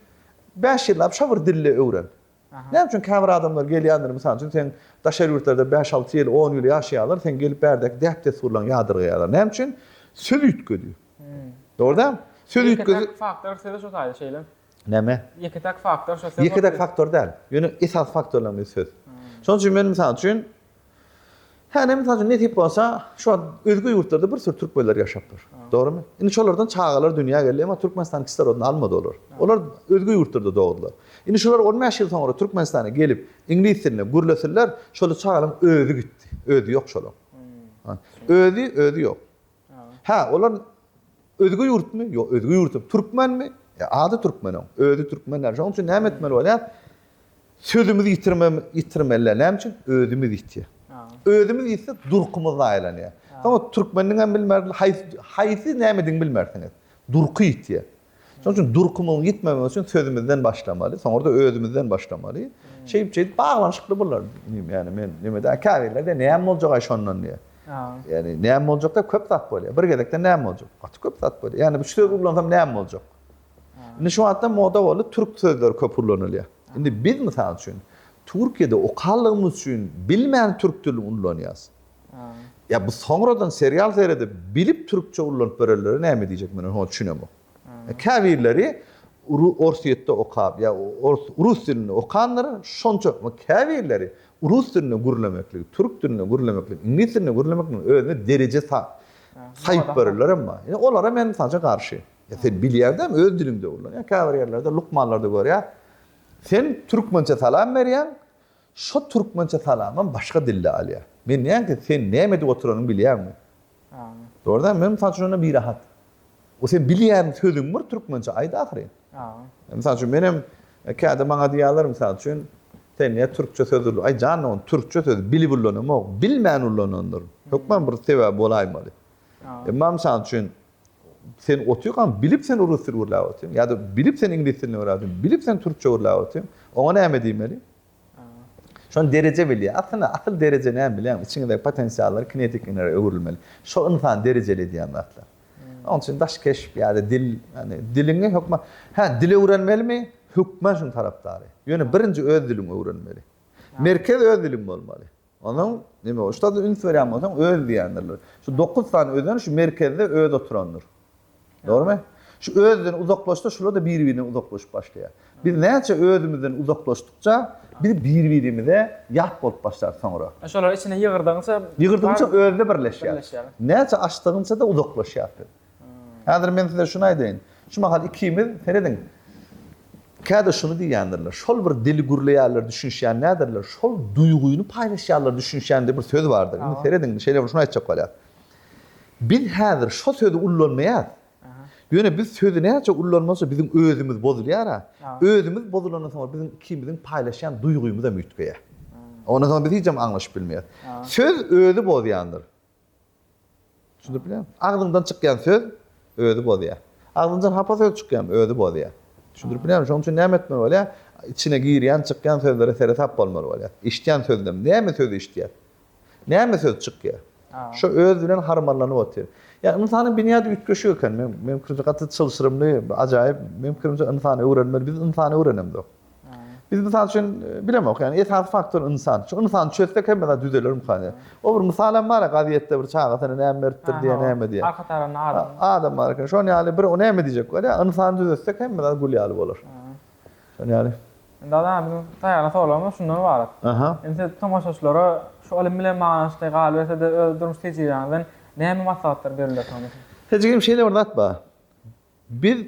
bäş ýyllap şo bir dilde öwren. Näme üçin käbir adamlar gelýändir mysal üçin sen daşary ýurtlarda bäş alty ýyl on ýyl ýaşaýarlar sen gelip bärdäki däp dessurlaryňy ýadyrgaýarlar näme üçin söz üýtgedi. Dogry däl. Söz üýtgedi. Ýeke faktor söz şo taýda şeýle. Näme? Ýeke täk faktor şo söz. Ýeke täk faktor däl. Ýöne esas faktorlaryň biri söz. Şonuň üçin men mysal üçin Hany, mysal üçin, nesip bolsa, şu wagt özge ýurtlarda bir sürü türkmenler ýaşapdyr. Dogrumy? Indi şolardan çagalar dünýä geldi, emma Türkmenistanyň kislorodyny almady olar. Olar özge ýurtlarda dogdular. Indi şular on bäş ýyl soňra Türkmenistana gelip, iňlis dilinde gürleseler, şol çagalaryň özi gitdi. Özi ýok şolaryň. Özi, özi ýok. Hä, olar özge ýurtmy? Ýok, özge ýurt. Türkmenmi? E, ady türkmen oň. Özi türkmen däl. Şonuň üçin näme etmeli bolýar? Sözümizi ýitirmem, ýitirmeli. Näme üçin? Özümiz ýitýär. Özümiz ýitsek, durkumyz zaýalanýar. Soň türkmeniniň hem bilmez, haýsy, haýsy nämedigini bilmersiňiz. Durky ýitýär. Şonuň üçin durkumuň ýitmemegi üçin sözümizden başlamaly, soňra-da özümizden başlamaly. Şeýdip, şeýdip baglanyşykly bular. Ýani men nimedeý, käbirlerde näme boljaga şondan diýýär. Ýani näme boljakda köp zat bolýar. Bir gezekde näme boljak? Gaty köp zat bolýar. Ýani bu sözi ullansam näme boljak? Indi şu wagtda moda boldy, türk sözleri köp ullanylýar. Indi biz, mysal üçin, Türkiýede okandygymyz üçin bilmän türk dilini ullanýarys. Ýa bu soňradan serial seredip bilip türkçe ullanyp berenlere näme diýjek men oňa düşünemok. Käbirleri Orsýetde okap ýa rus dilinde okandyr şonça käbirleri rus dilinde gürlemekligi türk dilinde gürlemekligi iňlis dilinde gürlemekligiň özüne dereje saýyp berenler hem bar. Ýa olara men mysal üçin garşy. Ýa sen bilýäňdämi öz diliňde ullanyň. Ýa käbir ýerlerde lukmanlarda görýän sen türkmençe salam berýäň Şo türkmençe salamam başga dilde alýar. Men nätdi, sen näme edip oturanyňy bilýäňmi? Dogry däl, men mysal üçin onda birahat. O sen bilýän sözüň bir türkmençe aýt ahyryn. Mysal üçin menem käde maňa diýýärler mysal üçin, sen näme türkçe söz ulanýaň? Aý jan dogan, türkçe sözi bilip ulanamok, bilmän ulanandyryn. Hökman bir sebäbi bolaýmaly. Emma mysal üçin sen otykan bilip sen urus dil gürläp otyryn ýa-da bilip sen iňlis dilini gürläp otyryn bilip sen türkçe gürläp otyryn oňa näme diýmeli şony dereje bilýär aslynda asyl dereje näme bilýäňmi içiňizdäki potensiallar kinetik energiýa öwrülmeli şo ynsan derejeli edýän zatlar onuň üçin daş keşp ýa-da dil ýani diliňi hökman hä dil öwrenmelimi hökman şunuň tarapdary ýöne birinji öz diliňi öwrenmeli merkez öz diliň bolmaly Onuň, neme boldy? Şu zada üns berýän bolsaň, öz diýendirler. Şu dokuz sany özen şu merkezde öz oturandyr. Dogrumy? Şu özden uzaklaşsa, şular-da biri-birinden uzaklaşyp başlaýar. Biz näçe özümizden uzaklaşdykça, biz biri-birimize ýat bolup başlarys soňra. Şolary içine ýygyrdygyňça. Ýygyrdygyňça özde birleşýär. Birleşýär. Näçe açdygyňça-da uzaklaşýarys biz. Häzir men size şuny aýdaýyn. Şu mahal ikimiz, serediň, käte şuny diýýändirler, şol bir dili gürleýärler, düşünişýän däldirler, şol duýgyny paýlaşýarlar, düşünişýän diýip bir söz bardyr. Indi serediň, şeýle bir şuny aýtjak bolýar. Biz häzir şo sözi ullanmaýas. Ýöne biz sözi näçe ullanmasa biziň özümiz bozulýar-a. Özümiz bozulandan soň biziň ikimiziň paýlaşýan duýgymyzam üýtgeýär. Ondan soň biz hijem aňlaşyp bilmeýäs. Söz özi bozýandyr. Düşündipmi? Agzyňdan çykýan söz özi bozýar. Agzyňdan hapa söz çykýamy, özi bozýar. Düşündirip bilemmi? Şonuň üçin näme etmeli bolýar? Içine girýän, çykýan sözlere seresap bolmaly bolýar. Eşitýän sözünden näme söz eşitýär? Näme söz çykýar? Şo özi bilen harmanlanyp otyr. Ýa ynsanyň binýady üýtgeşik eken. Meň, meň pikirimçe gaty çylşyrymly, ajaýyp. Meň pikirimçe ynsany öwrenmeli. Biz ynsany öwrenemzok. Biz mysal üçin bilemok, ýani esasy faktor ynsan. Şu ynsany çözsek hemme zat düzeler mukany. O bir mysal hem bar, gazetde bir çagasyna näme beripdir diýen näme diýen. Arka tarapynda adam. Adam bar eken. Şonuň ýaly bir o näme diýjek bolýa? Ynsany düzetsek hemme zat gül ýaly bolar. Şonuň ýaly. Indi adam biziň taýýarlan sowalymyz şundan ybarat. Aha. Indi siz tomaşaçylara şu ylym bilen baglanyşykly galyberse-de öz durmuş tejribeňizden näme maslahatlar berilýär soň? Tejribem şeýle bir zat bar. Biz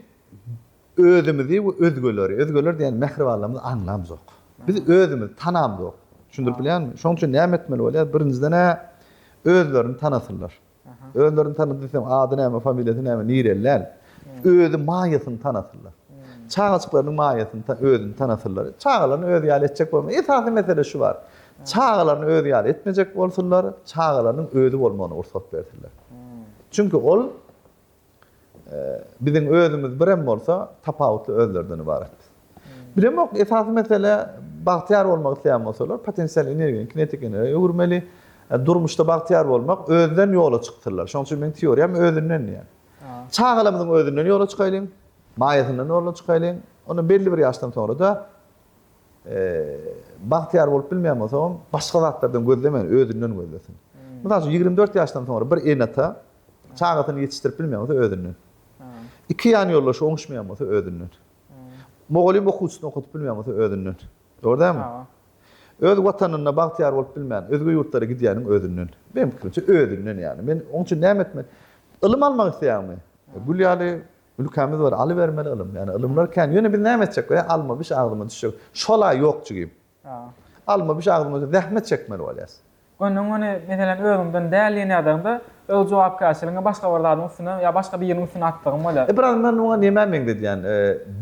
özümizi we özgeleri, özgeler diýen mähribanlarymyzy aňlamzok. Biz özümizi tanamzok. Düşündirip bilýärmi? Şonuň üçin näme etmeli bolýar? Birinjiden-ä özlerini tanasynlar. Özlerini tanady diýsem, ady näme, familiýasy näme, nireli däl. Özi maýasyny tanasynlar. Çagajyklarynyň maýasyny ta, özüni tanasynlar. Çagalaryny özi ýaly etjek bolma. Esasy mesele şu bar. Çagalaryny özi ýaly etmejek bolsunlar, çagalarynyň özi bolmagyna gursat bersinler. Çünki ol Biziň özümiz birem bolsa tapawutly özlerden ybarat. Bilemok esasy mesele bagtyýar bolmak isleýän bolsalar potensial energiýany kinetik energiýa öwürmeli. E, durmuşda bagtyýar bolmak özden ýola çyksynlar. Şonuň üçin meniň teoriýam özünden diýýän. Çagalarymyzyň özünden ýola çykaýlyň, maýasyndan ýola çykaýlyň. Onda belli bir ýaşdan soňra-da e, bagtyýar bolup bilmeýän bolsa, başga zatlardan gözlemeýin, özünden gözlesin. Hmm. Mysal üçin 24 ýaşdan soňra bir enata Çagasyny ýetişdirip bilmeýän bolsa özünden. Iki ýan ýoldaşy oňuşmaýan bolsa özünden. Mugallym okuwçysyny okadyp bilmeýän bolsa özünden. Dogry dälmi? Öz watanynda bagtyýar bolup bilmän, özge ýurtlara gidýäniň özünden. Meniň pikirimçe özünden ýagny. Men oň üçin näme etmeli? Ylym almak isleýäňmi? Gül ýaly ülkämiz bar, alybermeli ylym. Ýagny ylymlar kän. Ýöne biz näme etjek? Alma biş agzyma düşjek. Şol-a ýok jigim. Alma bişi agzyňa zähmet çekmeli bolýas. Öňden göni meselem özüňden däl diýen ýagdaýyňda öz jogapkärçiligiňi başga bir zadyň üstüne ýa başga biriniň üstüne atdygyň bolýar. E biraz men muňa nämä meňzedýän?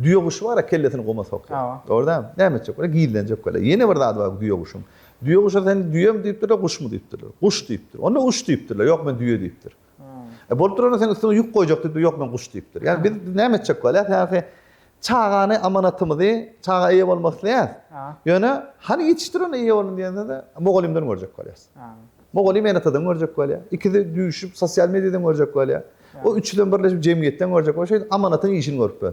Düýe guşy bar-a kellesini guma sokýar. Dogry däl? Näme etjek bolýar? Gizlenjek bolýar. Ýene bir zady bar düýe guşuň. Düýe guşa sen düýem diýipdirler, guşmy diýipdirler. Guş diýipdir. Onda uç diýipdirler. Ýok men düýe diýipdir. E, bolup durana sen üstüňe ýük goýjak diýip, ýok men guş diýipdir. Ýani biz näme etjek bolýar? Ýani çagany amanatymyzy, çaga eýe bolmak isleýär. Ýöne hany ýetişdir ony eýe bolun diýende-de mugallymdan görjek bolýas. Mugallym enatadan görjek bolýar. Ikisi düýşüp sosial mediýadan görjek bolýar. O üçüden birleşip jemgyýetden görjek bolýar. Şeýdip amanatyň işini görüp ber.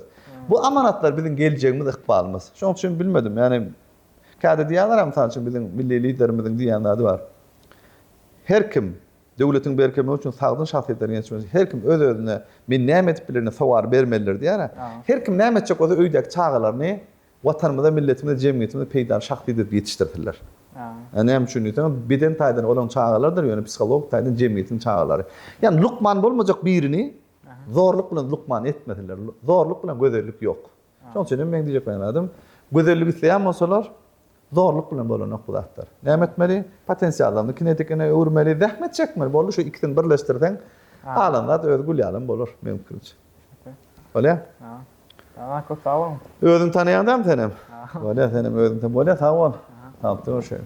Bu amanatlar biziň geljegimiz, ykbalymyz. Şoň üçin bilmedim. Ýani käde diýýärler, mysal üçin biziň milli liderimiziň diýýän zady bar. Her kim Döwletiň berkemegi üçin sagdyn şahsyýetleriň ýetişmegi her kim öz-özüne men näme edip bilerin sowary bermelidir diýär-ä. Her kim näme etjek bolsa öýdäki çagalaryny Watanymyza, milletimize, jemgyýetimize peýdaly şahsy edip ýetişdirsinler. Näme üçin diýseňiz beden taýdan olaryň çagalarydyr ýöne psihologik taýdan jemgyýetiň çagalary. Ýani lukman bolmajak birini zorluk bilen lukman etmesinler. Zorluk bilen gözellik ýok. Şonuň üçin hem meň diýjek bolan zadym, gözellik isleýän bolsalar, zorluk bilen bolanok bu zatlar. Näme etmeli? Potensiallaryny kinetikine öwürmeli, zähmet çekmeli. Boldy, şu ikisini birleşdirseň, galan zat özi gül ýalam bolar, meň pikirimçe. Bolýa? Aha, köp sag boluň. Özüňi tanaýaň dämi senem? Bolýa, senem özüňi tan. Bolýa, sag bol. Tapdyk o şeýle.